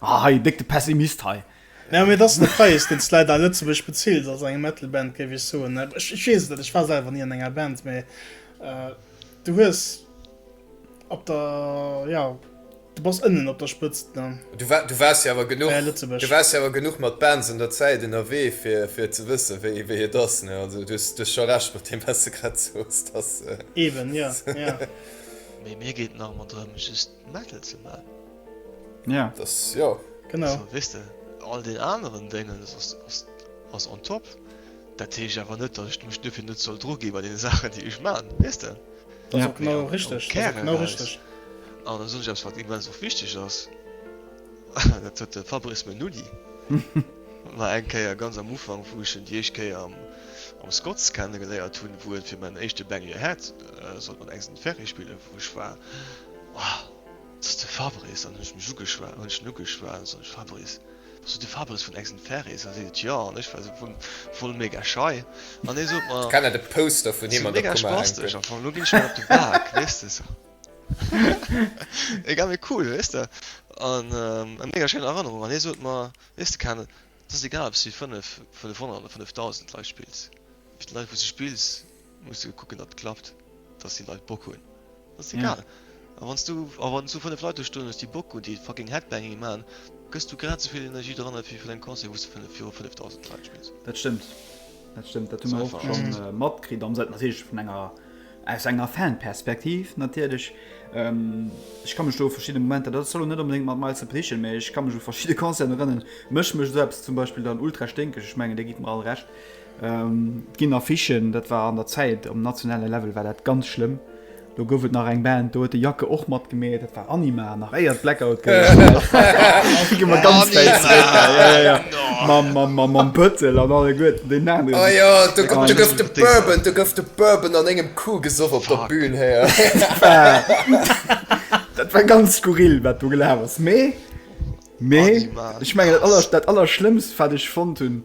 Ah hei, déck de Pessimist hei. Jo, mee et ass de Präis, deen s de leider a Lëtzebuerg bezills als eng Metal-Band, géif ech soen. Ech weess et net, ech war selwer ni an enger Band, mee du hues op der, jo, du bass ënnen op der Spëtzt, ne? Du waars jo awer genuch, du waars jo awer genuch mat Bands an der Zäit ënnerwee, fir, fir et ze wëssen, wéi, wéi et ass, ne? Also du hues scho Recht mat deem, wat s de grad sooss, dass. Eben, jo, jo. Mee mir geet et nach ëmmer drëm, just. Metal ze man. Ja das ja genau wis de all den anderen Dingen ass on top dat teech awer net dat mech dufir net soll dru gi bei den Sachen déi ech man wis de genau richtig genau richtig an der Sonnschafts wat immer so wichteg ass dat huet de Fabrice me nudi war eng Käier ganz am Ufang fuschen Di eich Käier am am Scotts kennen geléiert hunn wouet fir men éischte Benny hat sollt man engsen Ferry spillen wouch war. Wow, dat ass de Fabrice! An hunn ech mech ugeschwat, hunn ech en ugeschwat an sot ech, Fabrice, bass du de Fabrice vun Eggs and Fairies? An seet et, Jo! An ech war esou voll, voll mega schei an hie sot mer, Kann et e Poster vun him an der Kummer hänken? Am Fong, lo ginn ech mer op de Bak, weess de esou. Egal, mee cool, weess de, an eng mega schéin Erënnerung. An hie sot mer, Weess de Ken, et ass egal, ob s du fir 500 oder 5000 Leit spills, fir d'Leit, wou s du spills, Muss jo kucken datt klappt, datt déi Leit Bock hunn, ass egal. A wann s du a wann s du 5 Leit do stoen hues déi Bock hunn, déi fucking Headbanging maachen, gëss du grad esouvill Energie dran ewéi fir deng Concert wou s de viru 5000 Leit spills. Dat stëmmt, dat stëmmt, dat hu mer och scho matkritt, am Sënn natierlech vun enger aus enger Fanperspektiv natierlech. Ech ka mech do u verschidde Momenter, dat soll elo net onbedéngt mat Miles Up heeschen, mee ech ka mech u verschidde Concerten erënneren, mécht mech esou eppes zum Beispill dann ultra sténkeg, ech mengen, där gitt mer all Recht. Et ginn Affichen, dat war an der Zäit, um nationale Level war dat ganz schlëmm. Do gouf et nach eng Band, do huet de Jacke och matgemeet, dat war Anima, nach éier et Blackout gouf. Do gi mer ganz wäit zréck, ja, ja, ja, ja, mam Pëttel an alleguerten, deenen aneren. O jo, do gouf de Bourbon, do gouf de Bourbon an éngem Coup gesoff op der Bühn, héier. Dat war ganz skurril, wat do gelaf ass. Mee, mee, ech mengen, dat Allerschlëmmst, wat ech fonnt hunn,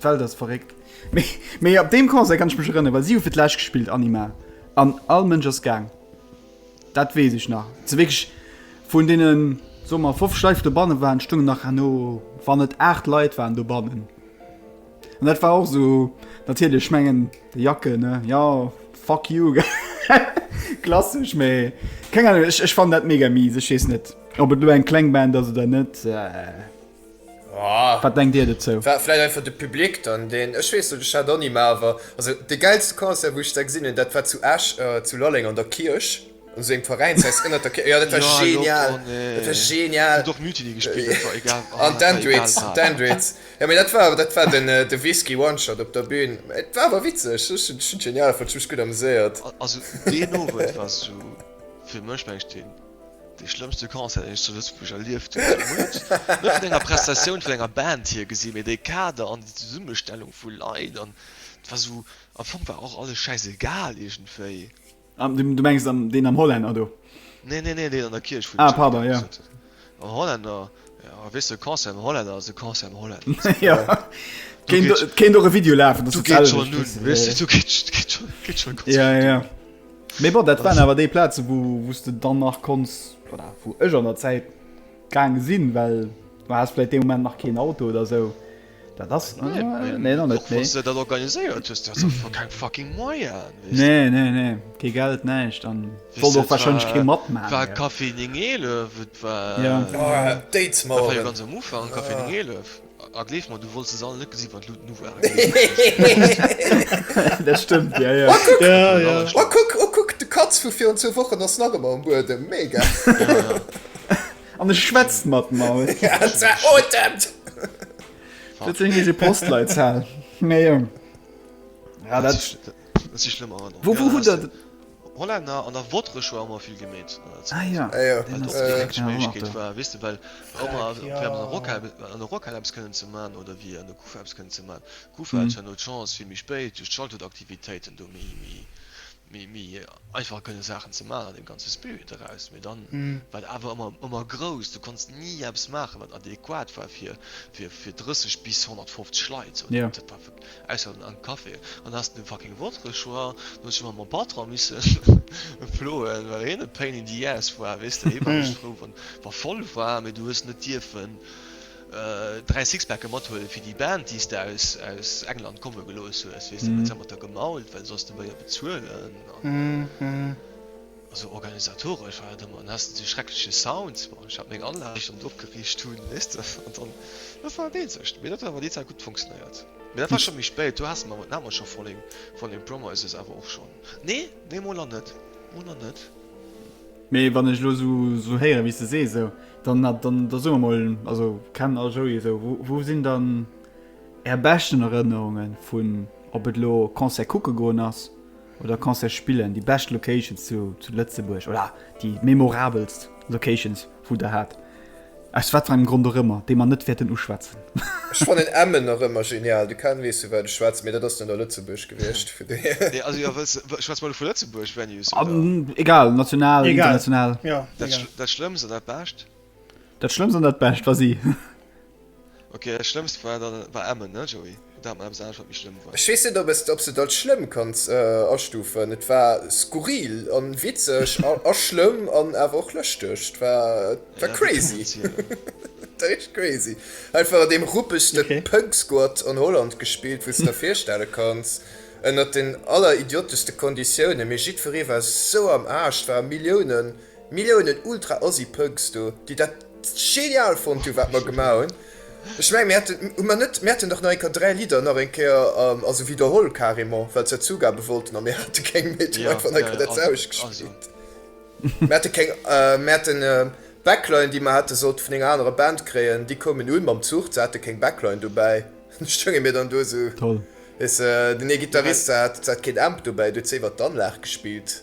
D'Welt ass verréckt. Mee op deem Concert kann ech mech erënneren, well si hu fir d'lescht gespillt, Anima, an all Mënsch ass gaang. Dat weess ech nach. Sou wierklech vun deenen, soe mer 50 Leit, déi dobannen waren, stoungen nach herno, wann net 8 Leit waren dobannen. An dat war och sou, natierlech, ech mengen, de Jacke, ne, jo, fuck you, klassesch. Mee keng Ahnung, ech fannen dat mega mies. Ech weess net, ob et elo eng kleng Band ass oder net. Wat denkt dir dozou? War vläit einfach de Public dann deen, ech weess net, ech hat och ni, mä awer also de gäilste Concert wou ech se gesinn hunn dat war zu Esch zu Lalleng an der Kierch, an esou engem Veräinshaus ënnert der Kierch, jo dat war genial, dat war genial an d'Endrix, d'Endrix, jo mä dat war awer, dat war den de Whisky One Shot op der Bühn, et war awer witzeg, ech hunn ech hunn genial fonnt, ech hu mech gutt ameséiert. Also deen Owend war esou fir mech mengen ech den Dee schlëmmste Concert, deen ech zu Lëtzebuerg erlieft hunn, ass wuel net vun enger Prestatioun vun enger Band hier gesi, mee dee Kader an déi Zesummestellung vu Leit an et war esou, am Fong war och alles schäisegal iergendwéi. Du mengs deen am Hollänner do? Nee, nee, nee, deen an der Kierch, wou de Jeff gedanzt huet. Am Hollänner, jo, weess de, e Concert am Hollänner ass e Concert am Hollänner. Jo, et kéint och e Video lafen, dass et d'selwecht ass. Du geet schonn un, weess de, do geet schonn, geet schonn ganz vill un. Mee bon, dat waren awer déi Plazen, wou, wou s de dann nach konns, oder wou ech an der Zäit gaange sinn, well du has vläit dee Moment nach keen Auto oder sou. Dat ass, nee, nach net, nee. Dat organiséiert hues, du has einfach keng fucking Moyen, weess de. Nee, nee, nee, kee Geld, näischt, an wollt och warscheinlech kee matmaachen. War Café 911, et war, dat war jo ganz am Ufank, Café 911. Ah gleef mer du wolls se all net gesi wat Luut nu war Dat stëmmt ja ja Oh kuck oh kuck de Katz vu virun zwou Wochen ass nach ëmmer um Buedem mega An e schwätzt mat mer Dat sinn eise Postleitzahl Mei Jong Ah dat. Wou wou hutt der. Hollänner an der Wotresch war ëmmer vill gemeet. Ah jo, deen ass gutt. Eng Méiglechkeet war, weess de, well ëmmer an der Rockhal, an der Rockhal eppes kënnen ze man oder wéi an der Kufa eppes kënnen ze man. D'Kufa hat zwar no d'Chance vill méi spéit duerch d'Schalthutaktivitéiten do méi, méi, méi einfach kënne Saachen ze man an deem ganze Spirit eraus, mee dann war et awer ëmmer, ëmmer grouss. Du konns ni eppes maachen, wat adequat war fir, fir, fir 30 bis 150 Leit. Dat war. Ausser an den Café. An hast den fucking Votre-choix. Du hues dech mat mom Patron missen ploen, well hien e pain in the ass war, weess de. Hie war just frou, wann wa voll war, mee du hues net dierfen dräi Sixpacke mathuelen, fir déi Band, déi s de aus, aus England komme gelooss hues, weess de. Huet se mat der gemault, well soss de méi e bezuelen an. Also organisatoresch war dat ëmmer an hast dee schreckleche Sound, bon ech hat meng Anlag déi ech dann opgeriicht hunn, weess de, an dann dat war dat eenzegt, mee dat huet awer déi Zäit gutt funktionéiert. Mee dat war scho méi spéit, do haasse mer awer, do hate mer scho Falling Falling Promises awer och schonn, nee nee mol nach net, mol nach net. Mee wann ech elo esou héieren wéi s de sees esou, dann dann da soe mer mol, also Ken a Joey esou, wou sinn dann är beschten Erënnerunge vun, ob et elo Concert kucke goen ass, Oder kanns de spillen déi bescht Locations zu Lëtzebuerg oder déi memorabelst Locations wou der hat, aus wat fir engem Grond och ëmmer, déi mer net wäerten uschwätzen. Ech fannen Emmen nach ëmmer genial, de Ken weess vu wat ech schwätzen, mee dat ass dann a Lëtzebuerg gewiescht, vu dohier. Nee also jo wëlls de, schwätz mol vu Lëtzebuerg Venues oder? Egal, national, international. Dat Schlëmmst an dat Bescht? Dat Schlëmmst an dat Bescht, vas-y. Ok, dat schlëmmst war dann war Emmen ne Joey? Oder hat mer eppes anescht wat méi schlëmm war? Ech weess net ob s et als schlëmm kanns astufen. Et war skurril an witzeg a schlëmm an awer och lëschteg. Et war crazy. Et war richteg crazy. Einfach an deem ruppegste Punk Squat an Holland gespillt wou s der virstelle kanns. Ënnert den aller idioteschte Konditioune mee jiddweree war sou am Aarsch. Et ware Milliounen. Milliounen ultra assi punks do déi dat genial fonnt hu wat mer gemaach hunn. Ech mengen mir hätten, hu mer net, mir hätten dach nach eng Kéier dräi Lidder nach eng Kéier also widderholl carrément well se dat zougabe wollten a mir hate keng méi, du einfach nach eng Kéier dat selwecht gespillt. Mir hate keng, mir haten Backline déi mer hätte sollte vun enger anerer Band kréien, déi koumen un mam Zuch, se hate keng Backline dobäi, du stounge mir dann do esou, weess de, den ee Gittarist hat hat keen Amp dobäi, du huet se iwwert d'Anlag gespillt.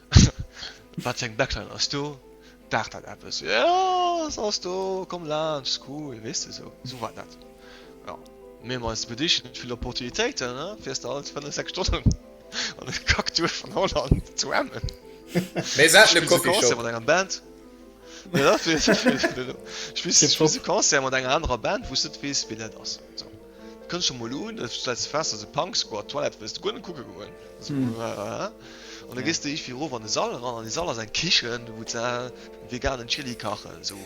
Wat fir eng Backline ass do? Daacht dat eppes? Jo, se ass do, komm laanscht, cool, weess de, esou, esou war dat. Jo, mir hu mer eis bedicht mat vill Opportunitéiten, ne, fiers de alt fënnef, sechs Stonnen an de Kackduerf vun Holland zu Emmen. Mir haten e Coffeeshop. Mat enger Band. Spills e Concert mat enger anerer Band, wou s de net weess, wien dat ass. Kënnt scho mol un, du stells de fest, dass e Punk Squad Twilight wëlls de guer net kucke goen. An da gees de iergendwéi erof an de Sall eran, an dee Sall ass eng Kichen, wou se veganen Chilli kachen, esou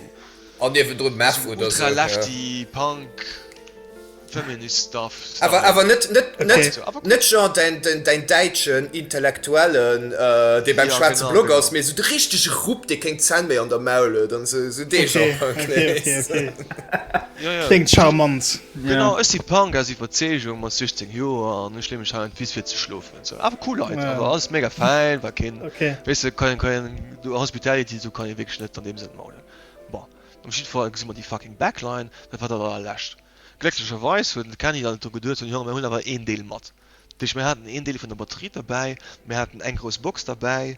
ultra lefty Punk Feminist Stuff. Awer net genre däin däitschen Intellektuelle, dee beim schwaarze Block ass, mee esou de richtege Rupp, dee keng Zänn méi an der Maul huet an esou dee Genre. Ja, ja. Kléngt charmant. Genau, ech si Punk aus Iwwerzeegung mat 16 Joer an ech leeë mech hei an d'Wiss fir ze schlofen an esou. Awer cool Leit, awer alles mega fäin, war keen, weess de, keen, keen do Hospitality, do kann ee wierklech net an deem Sënn maulen. Bon, op jiddwer Fall gesi mer déi fucking Backline, dat war dat allerlescht. Glécklecherweis huet de Kenny dann net dru geduet, hunn, Jo, mir hunn awer een Deel mat. Duerch mir haten een Deel vun der Batterie derbäi, mir haten eng grouss Box derbäi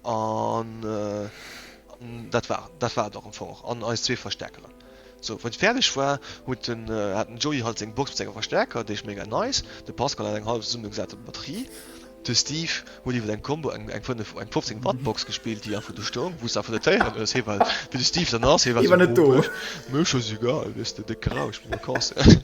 an dat war dat war et och am Fong och an eis zwee Verstäerkeren. Sou wou et fäerdeg war, huet den hat den Joey halt seng Box mat senge Verstäerker, déi ech mega nice, de Pascal hat eng hallef zesummegesate Batterie, de Steve huet iwwer eng Combo eng eng 5 eng 15 Watt Box gespillt, déi einfach do stoung, wou s de einfach net héieren hues, hee war wéi de Steve dann ass, hee war sou, Mir war scho egal, weess de, de Krausch, mir Vacances.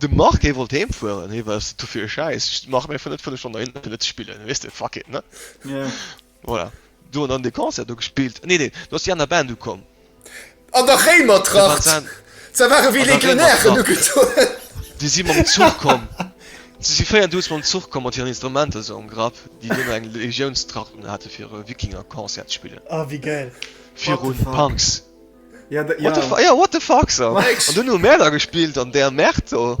De Marc hee wollt heem fueren, hee war du fir e Schäiss, ech maache mir vun net 5 Stonnen dohinner fir net ze spillen, weess de, fuck it, ne? Yeah. Voilà. Du hunn dann de Concert do gespillt, nee, nee, do ass déi aner Band ukomm. An der Réimertracht! Dat war. Se ware wéi Legionären ugedoen. Déi si mam Zuch komm, se si 4 Dudes mam Zuch komm mat hiren Instrumenter esou am Grapp, déi dunn eng Legiounstracht unhate fir e Wikinger-Concert ze spillen. Ah, wéi gäil. Virun Punks. Ja, da, ja. What, the, ja, what the fuck so. An du hu Mäder gespielt an der Mäert do.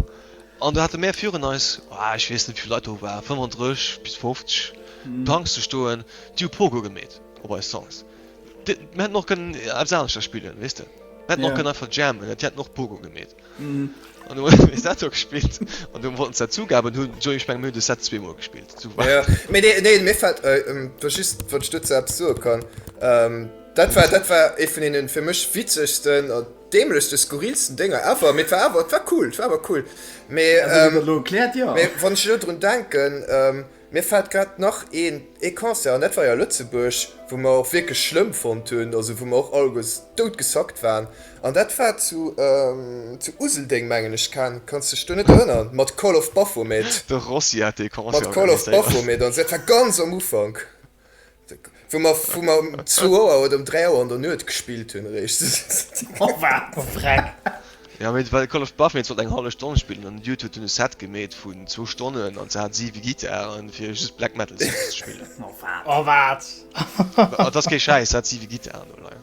An du hatte Mä virun eis oh, ich wees net wie Leiit do war 35 bis 50 mm. Tanks ze stoen, Di Pogo gemet op eis Songs. Mä noch gënn äh, absaunecher spielen wisste. Mä yeah. noch gënn einfach jammen, Di hat noch Pogo gemet. Mhm. An hun ech dat do gespillt. An du wollten dat zugaben hun jo ech meng mir de Set zweemoer gespillt. Ja. Mee nee, nee mir fällt äh, ähm, du just wat ich dazu ab so kann. Ähm, dat war dat war e vun denen fir mech witzegsten an dämlech de skurrilsten Dinger ever mit war aber war cool war aber cool. Mee, ähm, klärt, ja. mee wann ich lo drun denken ähm, Mir fällt grad nach een ee Concert an dat war jo a Lëtzebuerg wou mer och wierklech schlëmm fonnt hunn, also wou mer och alleguers dout gesackt waren an dat war zu zu Useldeng mengen ech. Ken, kanns dech do net erënneren mat Call of Baphomet? De Rossi hat dee Concert organiséiert. Mat Call of Baphomet an esou, dat war ganz am Ufank. Wou mer wou mer um zwou Auer oder um dräi Auer an der Nuet gespillt hunn eréischt. Oh wat e Freck! Jo mee well Call of Baphomet sollt eng hallef Stonn spillen an den Dude huet dunn e Set gemeet vun zwou Stonnen an se hat siwe Gittaren fir just Black Metal Songs ze spillen. Oh wat! Et ass kee Schäiss, se hat siwe Gittaren doleien.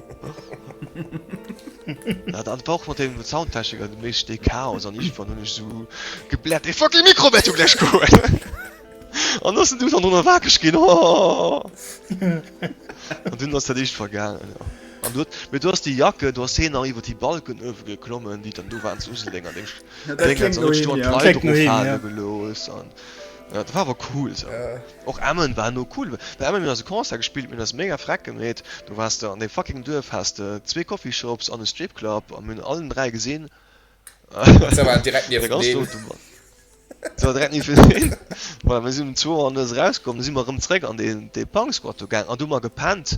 Ja, dann braucht man den Soundtechniker den meisten den Chaos an ich war nur nicht so geblärt. Ey, fuck, die Mikro wird gleich gut. Und das sind du dann drunter wackig gehen. Oh. Und dann hast du dich vergangen. Ja. Und du, mit du hast die Jacke, du hast sie nach über die Balken geklommen, die dann du waren zu Uselding an dem Ding, dann hast du einen Kleid drauf haben gelöst. Ja, das war aber cool. So. Ja. Och Emmen war no cool, bei Emmen hun ass e Concert gespillt, mir hun ass mega freck gemeet, do wars de an deem fucking Duerf, has de zwee Coffeeshops an e Stripclub a mir hun allen 3 gesin, se war direkt niewendeen, voilà mir sin um zwou an nuets eraus komm, du si mer erëm zeréck an dee Punk Squat do gaang an do hu mer gepennt.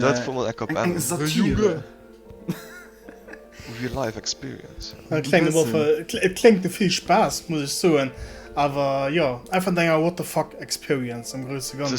Dat wor mol eck op Emmen. Et kléngt no vill Spaass, muss ech soen, awer jo, einfach no enger What-the-fuck-Experience am grousse Ganzen.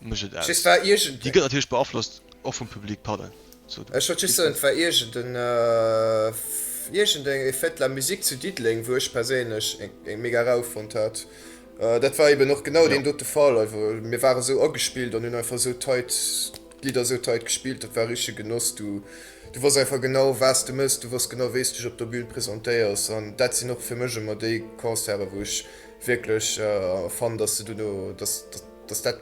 Mécht et aus. Déi gëtt natierlech beaflosst och vum Public. Pardon, sou du. Ech wollt just soen, et war iergenden, iergendeng e Fête de la musique zu Diddeleng, wou ech perséinlech eng mega Rou fonnt hat. Dat war eben och genau deen dote Fall. Einfach, mir ware sou agespillt an hunn einfach sou tight, d'Lidder sou tight gespillt. Dat war e richtege Genoss. Du, du wosst einfach genau, was de méchs. Du wosst genau, wéi s dech op der Bün presentéiers. An dat sinn och fir mech ëmmer déi Concerten, wou ech wierklech fannen, dass se duerno, dass, dass. dass dat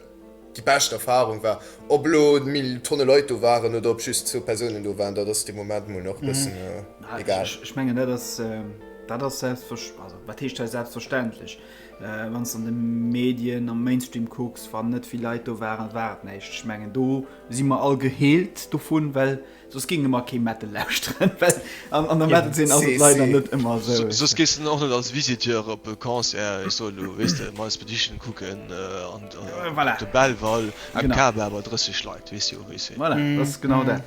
déi bescht Erfahrung war. Ob elo méi Tonne Leit do waren oder ob just zwou Persounen do waren, dat ass de Moment mol nach e bëssen egal. Ech mengen, dat ass, dat ass selbstversch-, also wat heescht hei selbstverständlech? Wann s de an de Medien, am Mainstream kucks, wann net vill Leit do waren, war et näischt. Ech mengen, do si mer all geheelt dovun, well Soss géinge mer kee Metal lauschteren, well an der Metal-Zeen ass et leider net ëmmer esou. Soss gees de och net als Visiteur op e Concert, ech soen elo, weess de, Miles Petition kucken an op de Belval, eng Kaba mat 30 Leit, weess de jo, wéi se. Voilà, dat ass genau dat.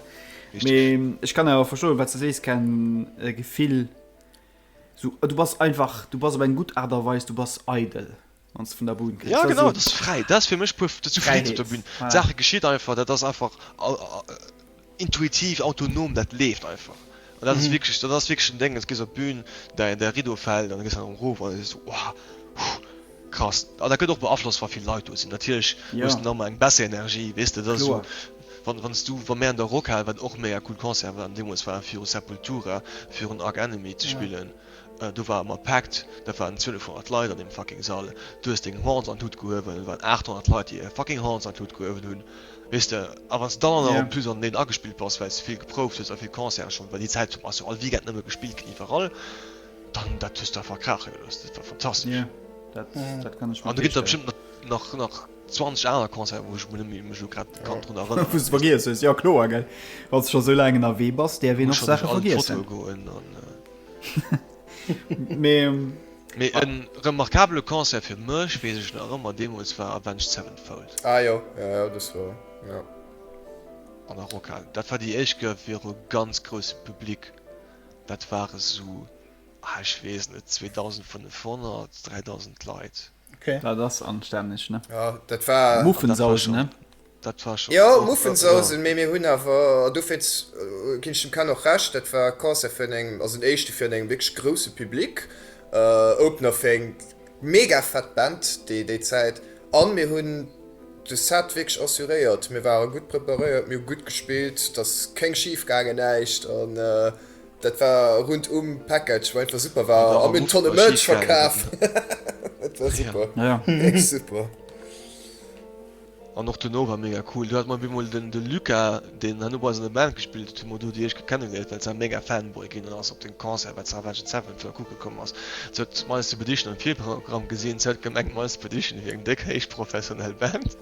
Mee ech kann awer verstoen, wat s de sees, Ken, e Gefill, esou, du bass einfach, du bass op eng gutt Aart a Weis, du bass eidel. wann s vun der Bun kenns. Ja genau, et ass fräi, dat ass fir mech puer, dat si Fräiheet op der Bün. D'Saache geschitt einfach, dat ass einfach intuitiv, autonom, dat leeft einfach. An dat ass wierklech, dat ass wierklech en Déngen, s gees op d'Bün, däi däi Rideau fält an da gees erëm erof an da sees du, Wow, huh, krass. An dat gëtt och beaflosst, wa vill Leit do sinn, natierlech hues de nach emol eng bessere Energie, weess de, dat ass esou, wann wann s du, wa mir an der Rockhal, wat och mega cool Concert war, an deemools war viru Sepultura, virun Arch Enemy ze spillen, Do war ëmmer Paakt, dat waren 1200 Leit an deem fucking Sall. Du hues deng Horns an d'Lut gehuewen, et waren 800 Leit, déi hir fucking Horns an d'Lut gehuewen hunn, weess de. A wann s de dann och nach en plus an deen agespillt bass, well s de vill geprouft hues a vill Concerte schonn, well déi Zäit ass jo all Weekend nëmme gespillt ginn iwwerall, dann dat hues du einfach kraache gelooss. Dat war fantastesch. An do ginn der bestëmmt nach, nach 20 aner Concerten, wou ech mech nëmme elo grad ka drun erënneren. Wou s de vergiess hues, jo kloer, gell, wa s de scho sou laang ënnerwee bass, däerf een och Saache vergiessen. Ech muss schonn eng Foto goen an. Mee Mee en remarkabele Concert fir mech, weess ech nach ëmmer, deemools war Avenged Sevenfold. Ah jo, ja ja, dës war, ja. An der Rockhal. Dat war déi éischt gouf viru ganz groussem Public. Dat ware sou, ah ech weess net, 2005, 3000 Leit. Okay. Dat ass anstänneg, ne? Ja, dat war. Muffensausen, ne? Dat war schon. Ja, Muffensausen, mé mir hunn awer do fir ginn dem Ken och recht, dat war Concert vun engem, also den éischte vun engem wierklech grousse Public, äh, Opener fir eng mega fett Band déi déi Zäit an mir hunn de Set wierklech assuréiert. Mir ware gutt preparéiert, mir hu gutt gespillt, et ass kéng schif gaangen, näischt an, äh, Dat war rund um Package wou einfach super war a mir hunn Tonne Merch verkaf. Dat war super. An och duerno war mega cool. Du hat mer op eemol den de Luca, deen herno bei eis an der Band gespillt huet, emol do déi éischt Kéier kennegeléiert, well se mega Fanboy ginn an ass op den Concert wat zu Avenged Sevenfold kucke komm ass. Se huet My Expedition am Virprogramm gesinn, se huet gemengt My Expedition wier eng déck héich professionell Band.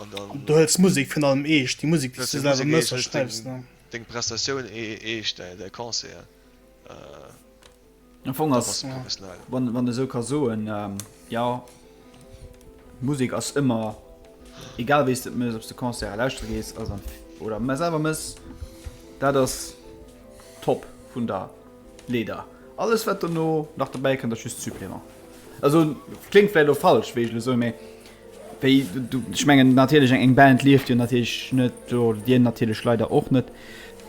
An dann. Du hëls d'Musek virun allem eescht, déi Musek, déi s du selwer mëss a schreiws, ne? Deng Prestatioun eescht, däi Concert. Am Fong ass, wann een esou ka soen, jo, Musek ass ëmmer, egal wéi s de et mëss, ob s de Concerten lauschtere gees oder selwer mëss, dat ass top vun der. Leeder. Alles wat dono nach dobäi kënnt ass just Supplément. Also kléngt vläit elo falsch wéi ech elo soen, mee wéi du, ech mengen natierlech eng Band lieft jo natierlech net, do dir natierlech leider och net,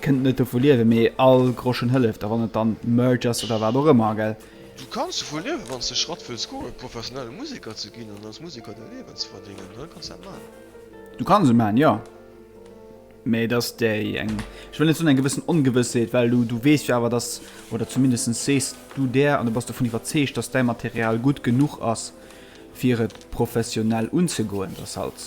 kënnt net dovu liewen, mee all Groschen hëlleft a wann et dann Merch ass oder wat och ëmmer, gell. Du kanns dovu liewen, wann s de Schratt wëlls goen professionelle Museker ze ginn an als Museker däi Liewen ze verdéngen, dann kanns dat maachen. Du kanns et maachen, jo. Mee et ass déi eng, ech wëll net soen eng gewëssen Ongewëssheet, well du, du weess jo awer, datt, oder zumindest sees du der, an du bass dovun iwwerzeegt, datt däi Material gutt genuch ass, fir et professionell unzegoen. Et ass halt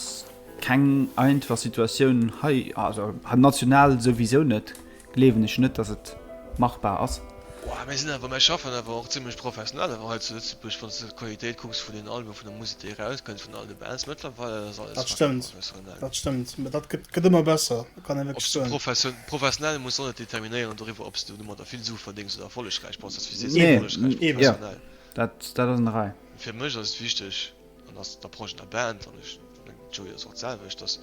keng einfach Situatioun hei, also national souwisou net, gleewen ech net dass et machbar ass. Ohh mär sinn awer, mär schaffen awer och zimlech professionell awer hei zu Lëtzebuerg, wann s de d'Qualitéit kucks vun den Albumen, vun der Musek déi erauskënnt, vun all de Bands mëttlerweil, dat ass alles fucking professionell. Dat stëmmt, dat stëmmt, dat gëtt ëmmer besser, dat kann ee wierklech soen. Ob s de professionell, muss och net determinéieren doriwwer ob s de domadder vill Su verdéngs oder erfollegräich bass, dat wisst dir selwer, erfollegräich oder professionell. Eben, dat ass en Detail. Fir mech ass et wichteg, an dat ass d'Approche an der Band, an ech mengen d'Joie ass och d'selwecht, dass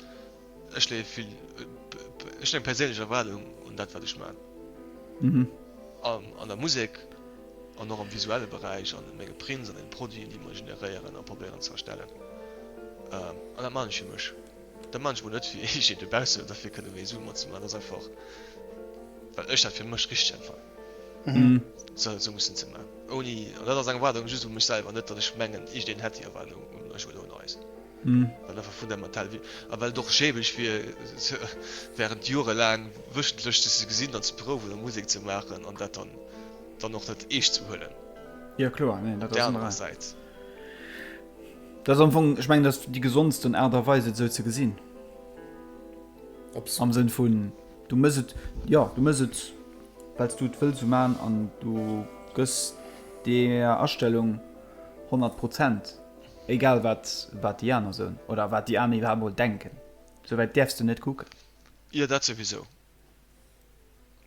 Ech leeë vill ech eng perséinlech Erwaardung un dat, wat ech maachen. An der Musek an och am visuelle Beräich an menge Prints an den Produiten, déi mer generéieren a probéieren ze erstellen. An dat maachen ech fir mech. Dat maachen ech mol net fir iergendwee dobaussen, oder fir kënne méi Sue mat ze maachen. Dat ass einfach, well ech dat fir mech richteg empfannen, sou eppes mussen ze maachen. Ouni, an dat ass eng Erwaardung just u mech selwer, net datt ech mengen, iergendeen hätt déi Erwaardung un mech oder un eis. An awer fundamental wier. A well et och schäbig wier, während Jore laang wéchentlech sech ze gesinn an ze prouwen a Musek ze maachen an dat dann och net eescht ze huelen. Jo, kloer. Neen, dat ass ëmmer esou. Dat ass am Fong, ech mengen, dat ass déi gesondsten Aart a Weis, et esou ze gesinn. Am Sënn vun, du méchs et, jo, du méchs et, well s du et wëlls esou maachen an du gëss där Astellung honnert Prozent. Egal wat wat déi aner soen oder wat déi aner iwwerhaapt mol denken, sou wäit däerfs de net kucken. Jo, dat souwisou.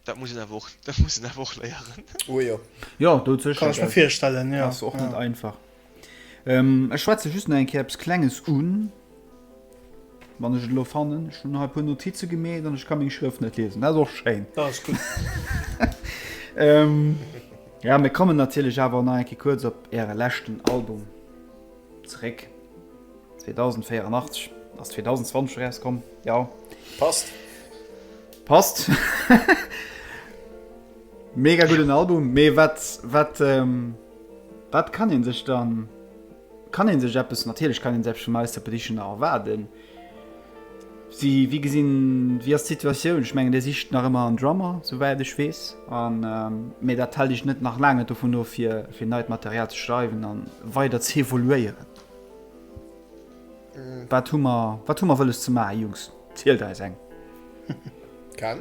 Dat muss een awer och, dat muss een awer och léieren. Oh jo. Jo, do sécher. Kann ech mir virstellen, jo. Ass och net einfach. Ech schwätze just nach eng Kéier eppes Klenges un. Wann ech et elo fannen, ech hunn nach e puer Notize gemeet an ech kann meng Schrëft net liesen. Dat ass och schéin. Dat ass gutt. ähm, ja, mir kommen natierlech awer nach enke kuerz op Äre leschten Album zeréck. 2084 ass 2020 rauskomm. Ja. Passt. Passt. Mega gudden Album, mee wat, wat, ähm, wat kann een sech dann Kann een sech eppes, natierlech kann een sech eppes vum Ice Appetitioner erwaarden. Si, wéi gesinn, wéi ass d'Situatioun? Ech mengen Dir sicht nach ëmmer en Drummer, sou wäit ech weess. An, mee dat hält iech net, nach laang net dovun of fir, fir neit Material ze schreiwen a weider z'evoluéieren. Wat hu mer, wat hu mer wëlles ze maachen, Jungs? Zielt eis eng. Kal.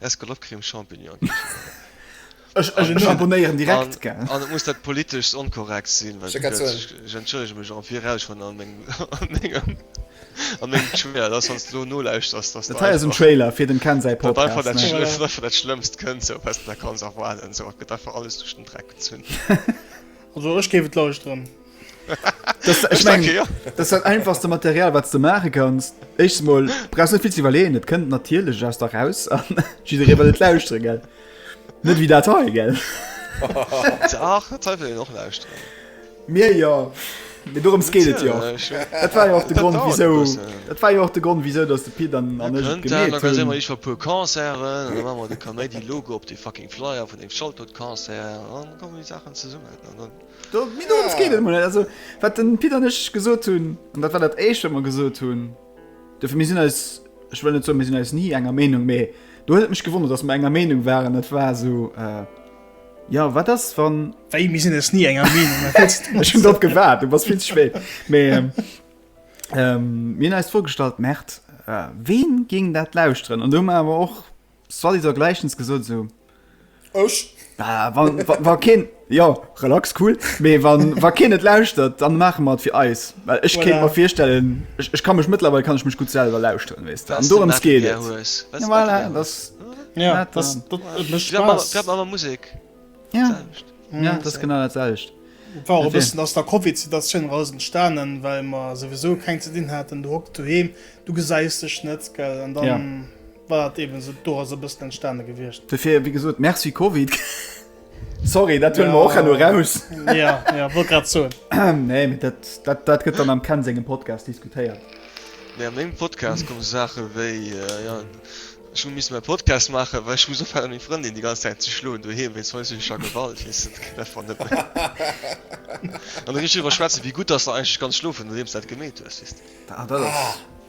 Escalope-Creme Champignon. Ech abonéieren direkt gell. An et muss dat politeschst onkorrekt sinn, well ech entschëllege mech am Viraus schonn a mengem a mengem Trailer, dass wann s de elo nolauschterst, dass dat einfach Trailer fir dem Ken säi Podcast, dat einfach dat Schlëmmst kënnt esou wat s de nach kanns erwaarden esou, et gëtt einfach alles duerch den Dreck gezunn. Also ech géif et lauschteren. das, ich mein, okay, ja. das hat einfachste Material was du machen kannst ich mal brauchst nicht viel zu überlegen das könnt natürlich aus da raus lausren, nicht wie dat gell noch lausren. mir ja mir darum geht ja das war ja auch der grund wieso das war ja auch der grund wieso dass du Pi dann an ich war pur concert die logo op die fucking flyer von dem schalt und concert kommen die sachen zu summen Mee dorëms geet et mol net. Also, wat de Pit an ech gesot hunn, an dat war dat Éischt, wat mer gesot hunn, dofir, mir sinn eis, ech wëll net soen, mir sinn eis ni enger Meenung, mee do huet et mech gewonnert, datt mer enger Meenung waren, dat war esou, Jo, wat ass, wann. Wéi, mir sinn eis ni enger Meenung? Wat wëlls de? Ech hunn drop gewaart, du bass vill ze spéit. Mee mir hunn eis d'Fro gestallt, Merde, ween géing dat lauschteren? An do hu mer awer och Soit disant gleichens gesot so. Ech? Bah, wa, wa, wa keen, ja, relax, cool. Mee wa, wa keen et lauschtert, dann maache mer et fir eis. Well ech voilà. kéint mer virstellen, ech, ech kann mech mëttlerweil kann ech mech gut selwer lauschteren, wees du. An dorëms geet et. Ja, voilà, das, ja, dat, das, dat, dat, dat, das, das, das, das, Musik. Ja, ja, ja das genau dat selcht. War e bëssen ass der Covid-Situatioun raus entstanen, well mer sowieso keng ze dinn haten, du hock du heem, du gesäis dech net, gell, an dann... Ja. Wat eben esou do ass e bëssen entstane gewiescht. Dofir, wéi gesot, Merci Covid. Sorry, dat huelen mer och herno eraus. Ja, ja, wollt grad soen. Nee, mee dat, dat, dat gëtt dann am Ken sengem Podcast diskutéiert. Nee, a mengem Podcast komme Saache wéi, jo, ech hu missen mäi Podcast maachen, well ech muss ophéieren meng Frëndin déi ganz Zäit ze schloen doheem wéinst häuslecher Gewalt, weess de, dat geet einfach net méi. An da gi ech driwwer schwätzen, wéi gutt dass der eigentlech ganz schlofen, nodeems du dat gemeet hues, weess de. Ah, dat ass.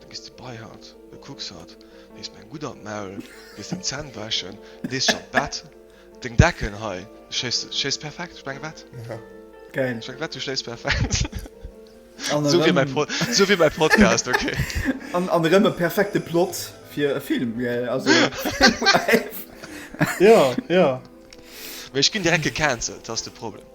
Du gis derbei haut, du kucks haut, lees mer eng gutt an d'Maul, gees deng Zänn wäschen, lees scho d'Bett, deng Decken hei, schléis perfekt, ech menge wett, ech menge wett, du schléis perfekt, esou wier mäi, esou wier mäi Podcast, ok. An an erëm e perfekte Plot fir e Film, gell, also jo, jo. Mee ech ginn direkt gecancelt, dat ass de Problem.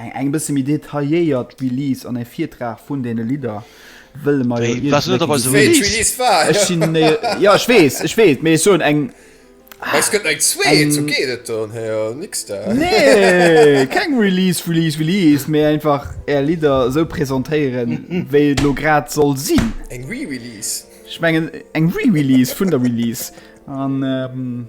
Eng eng bësse méi detailléiert Release an e Virtrag vun deene Lidder wëlle mer jo Ja ech weess, ech weess, mee ech soen eng. Ech gëtt eng zwee zo geet et dann héier ni da. Nee keng Release Release Release méi einfach Är Lidder esou presentéieren, wéi et elo grad soll sinn. Eng Re-Release? Ech mengen eng Re-Release vun der Release an.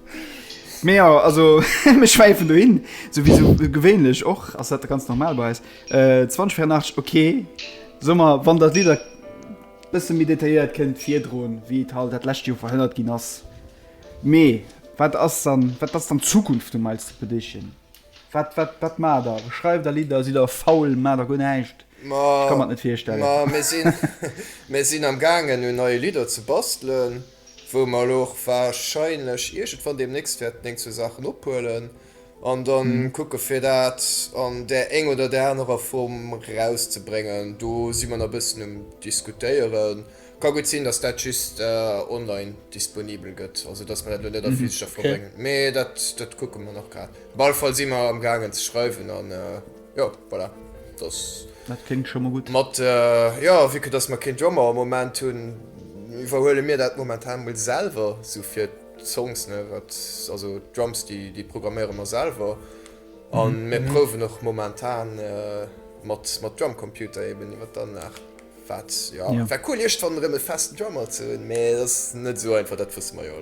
Mee jo, also mir schwäifen do hin, sou wéi sou gewéinlech och, ass dat ganz normal bei eis. 20 vir 8, ok, soe mer, wann dat Lidder bësse méi detailléiert kënnt virdroen, wéi et halt dat lescht Joer verhënnert ginn ass. Mee wat ass dann, wat ass dann d'Zukunft vum Miles Expedition? Wat, wat, wat maacht der? Schreift der Lidder, sidd der faul, maacht der guer näischt? Ech ka mer et net virstellen. Ma mir sinn amgaangen un neie Lidder ze bastelen. wou mer elo och wahrscheinlech iergendwann deemnächst wäerten eng, zwee Saachen ophuelen an da kucke fir dat an där enger oder där anerer Form erauszebréngen. Do si mer nach e bëssen um Diskutéieren. Ka gutt sinn, datt dat just online disponibel gëtt, also datt mer dat elo net a physescher Form bréngen, mee dat kucke mer nach grad. Op alle Fall si mer amgaangen ze schreiwen an. Jo, voilà. Das, dat klingt schon mal gut. Mat, äh, ja, wie gut, dass mer kein Drummer am Moment hun, iwwerhuele mir dat momentan mol selwer, so fir d'Songs, ne, wat, also d'Drums, déi, déi programméiere mer selwer. Mhm. An mir mhm. prouwen och momentan äh, mat, mat Drumcomputer eben iwwer dann nach. Wat, ja, ja. wär cool, iech dann rem e festen Drummer ze hunn, mee das net so einfach, dat wësse mer jo.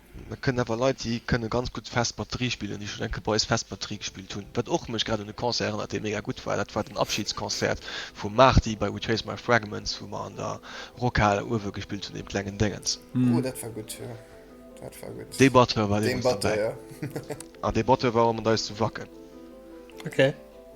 Da kënnen awer Leit, déi kënne ganz gutt fest Batterie spillen, déi schonn eng Kéier bei eis fest Batterie gespillt hunn. Wat och mech grad un e Concert erënnert, dee mega gutt war, dat war den Abschidsconcert vum Marty bei Retrace My Fragments, wou mer an der Rockhal uewe gespillt hunn, deem klengen Déngens. Oh, dat war gutt, jo, dat war gutt. Dee Batteur war deemools dobäi. An dee Batteur war och mat eis zu Wacken. Ok.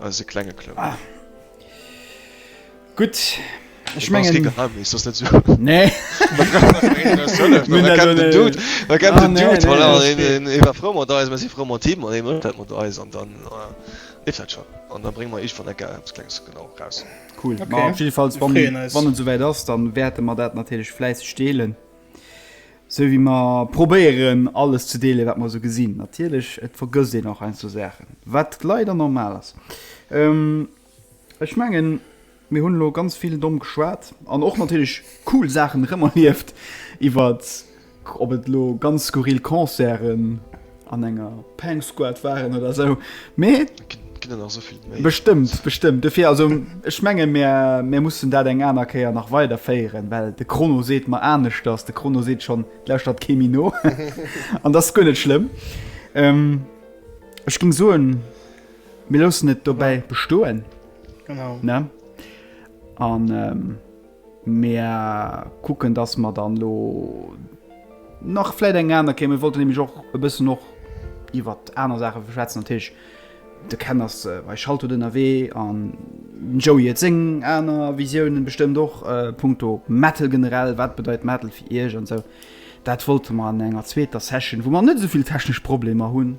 Eise klenge Club. Ah. Gutt. Ech mengen. Dat ass kee Geheimnis, dat ass net esou. Nee. Mir brauche nach een, deen eis hëlleft. Mir kennen den Dude. Mir kennen den Dude. Voilà, deen ee war frou mat eis. Mir si frou mat him. An hie mécht dat mat eis. An dann leeft dat schonn. An da brénge mer iech wann ecker eppes Klenges genau eraus. Cool. Op jiddefalls, wann et esou wäit ass, da wäerte mer dat natierlech fläisseg deelen. Sou wéi mer probéieren, alles ze deelen, wat mer esou gesinn. Natierlech, et vergësst een och heiansdo Saachen, wat leider normal ass. Ech mengen, mir hunn elo ganz vill domm geschwat an och natierlech cool Saachen erëm erlieft, iwwert ob et elo ganz skurril Concerten, an enger Pang Squad waren oder so mee bestimmt bestimmt dafür also ich menge mehr mehr mussten da eng einer Käier nach weiter feieren weil de Chrono seht man an nicht dass de Chrono seht schon der statt Chemino an das gönne schlimm ähm, ich ging so ein mir los nicht dabei bestohlen genau ne an ähm, Mir kucken, dass mer dann elo nach vläit eng aner Kéier, mir wollten nämlech och e bëssen och iwwer aner Saache schwätzen. Natierlech de Ken ass bei Schaltdout ënnerwee an den Joey huet seng aner Visiounen bestëmmt och punkto Metal generell. Wat bedeit Metal fir Iech an esou. Dat wollte mer an enger zweeter Session, wou mer net esou vill technesch Problemer hunn,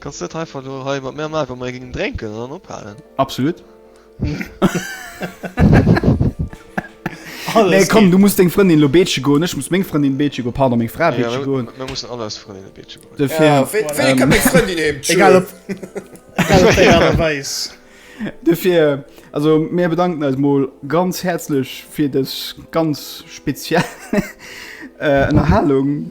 Kanns net einfach lo hei mat mär maachen, wa mer ee gingen drénken an dann ophalen? Absolut. Nee, komm, du muss deng Frëndin lo beeche goen, ech muss meng Frëndin beeche goen, pardon, meng Fra beeche goen. Mir mussen all eis Frëndinne beeche goen. Dofir. Wéini kënnt meng Frëndin heem? Egal op wéi Aart a Weis. Dofir, also mir bedanken eis mol ganz häerzlech fir dës ganz speziell Ënnerhalung.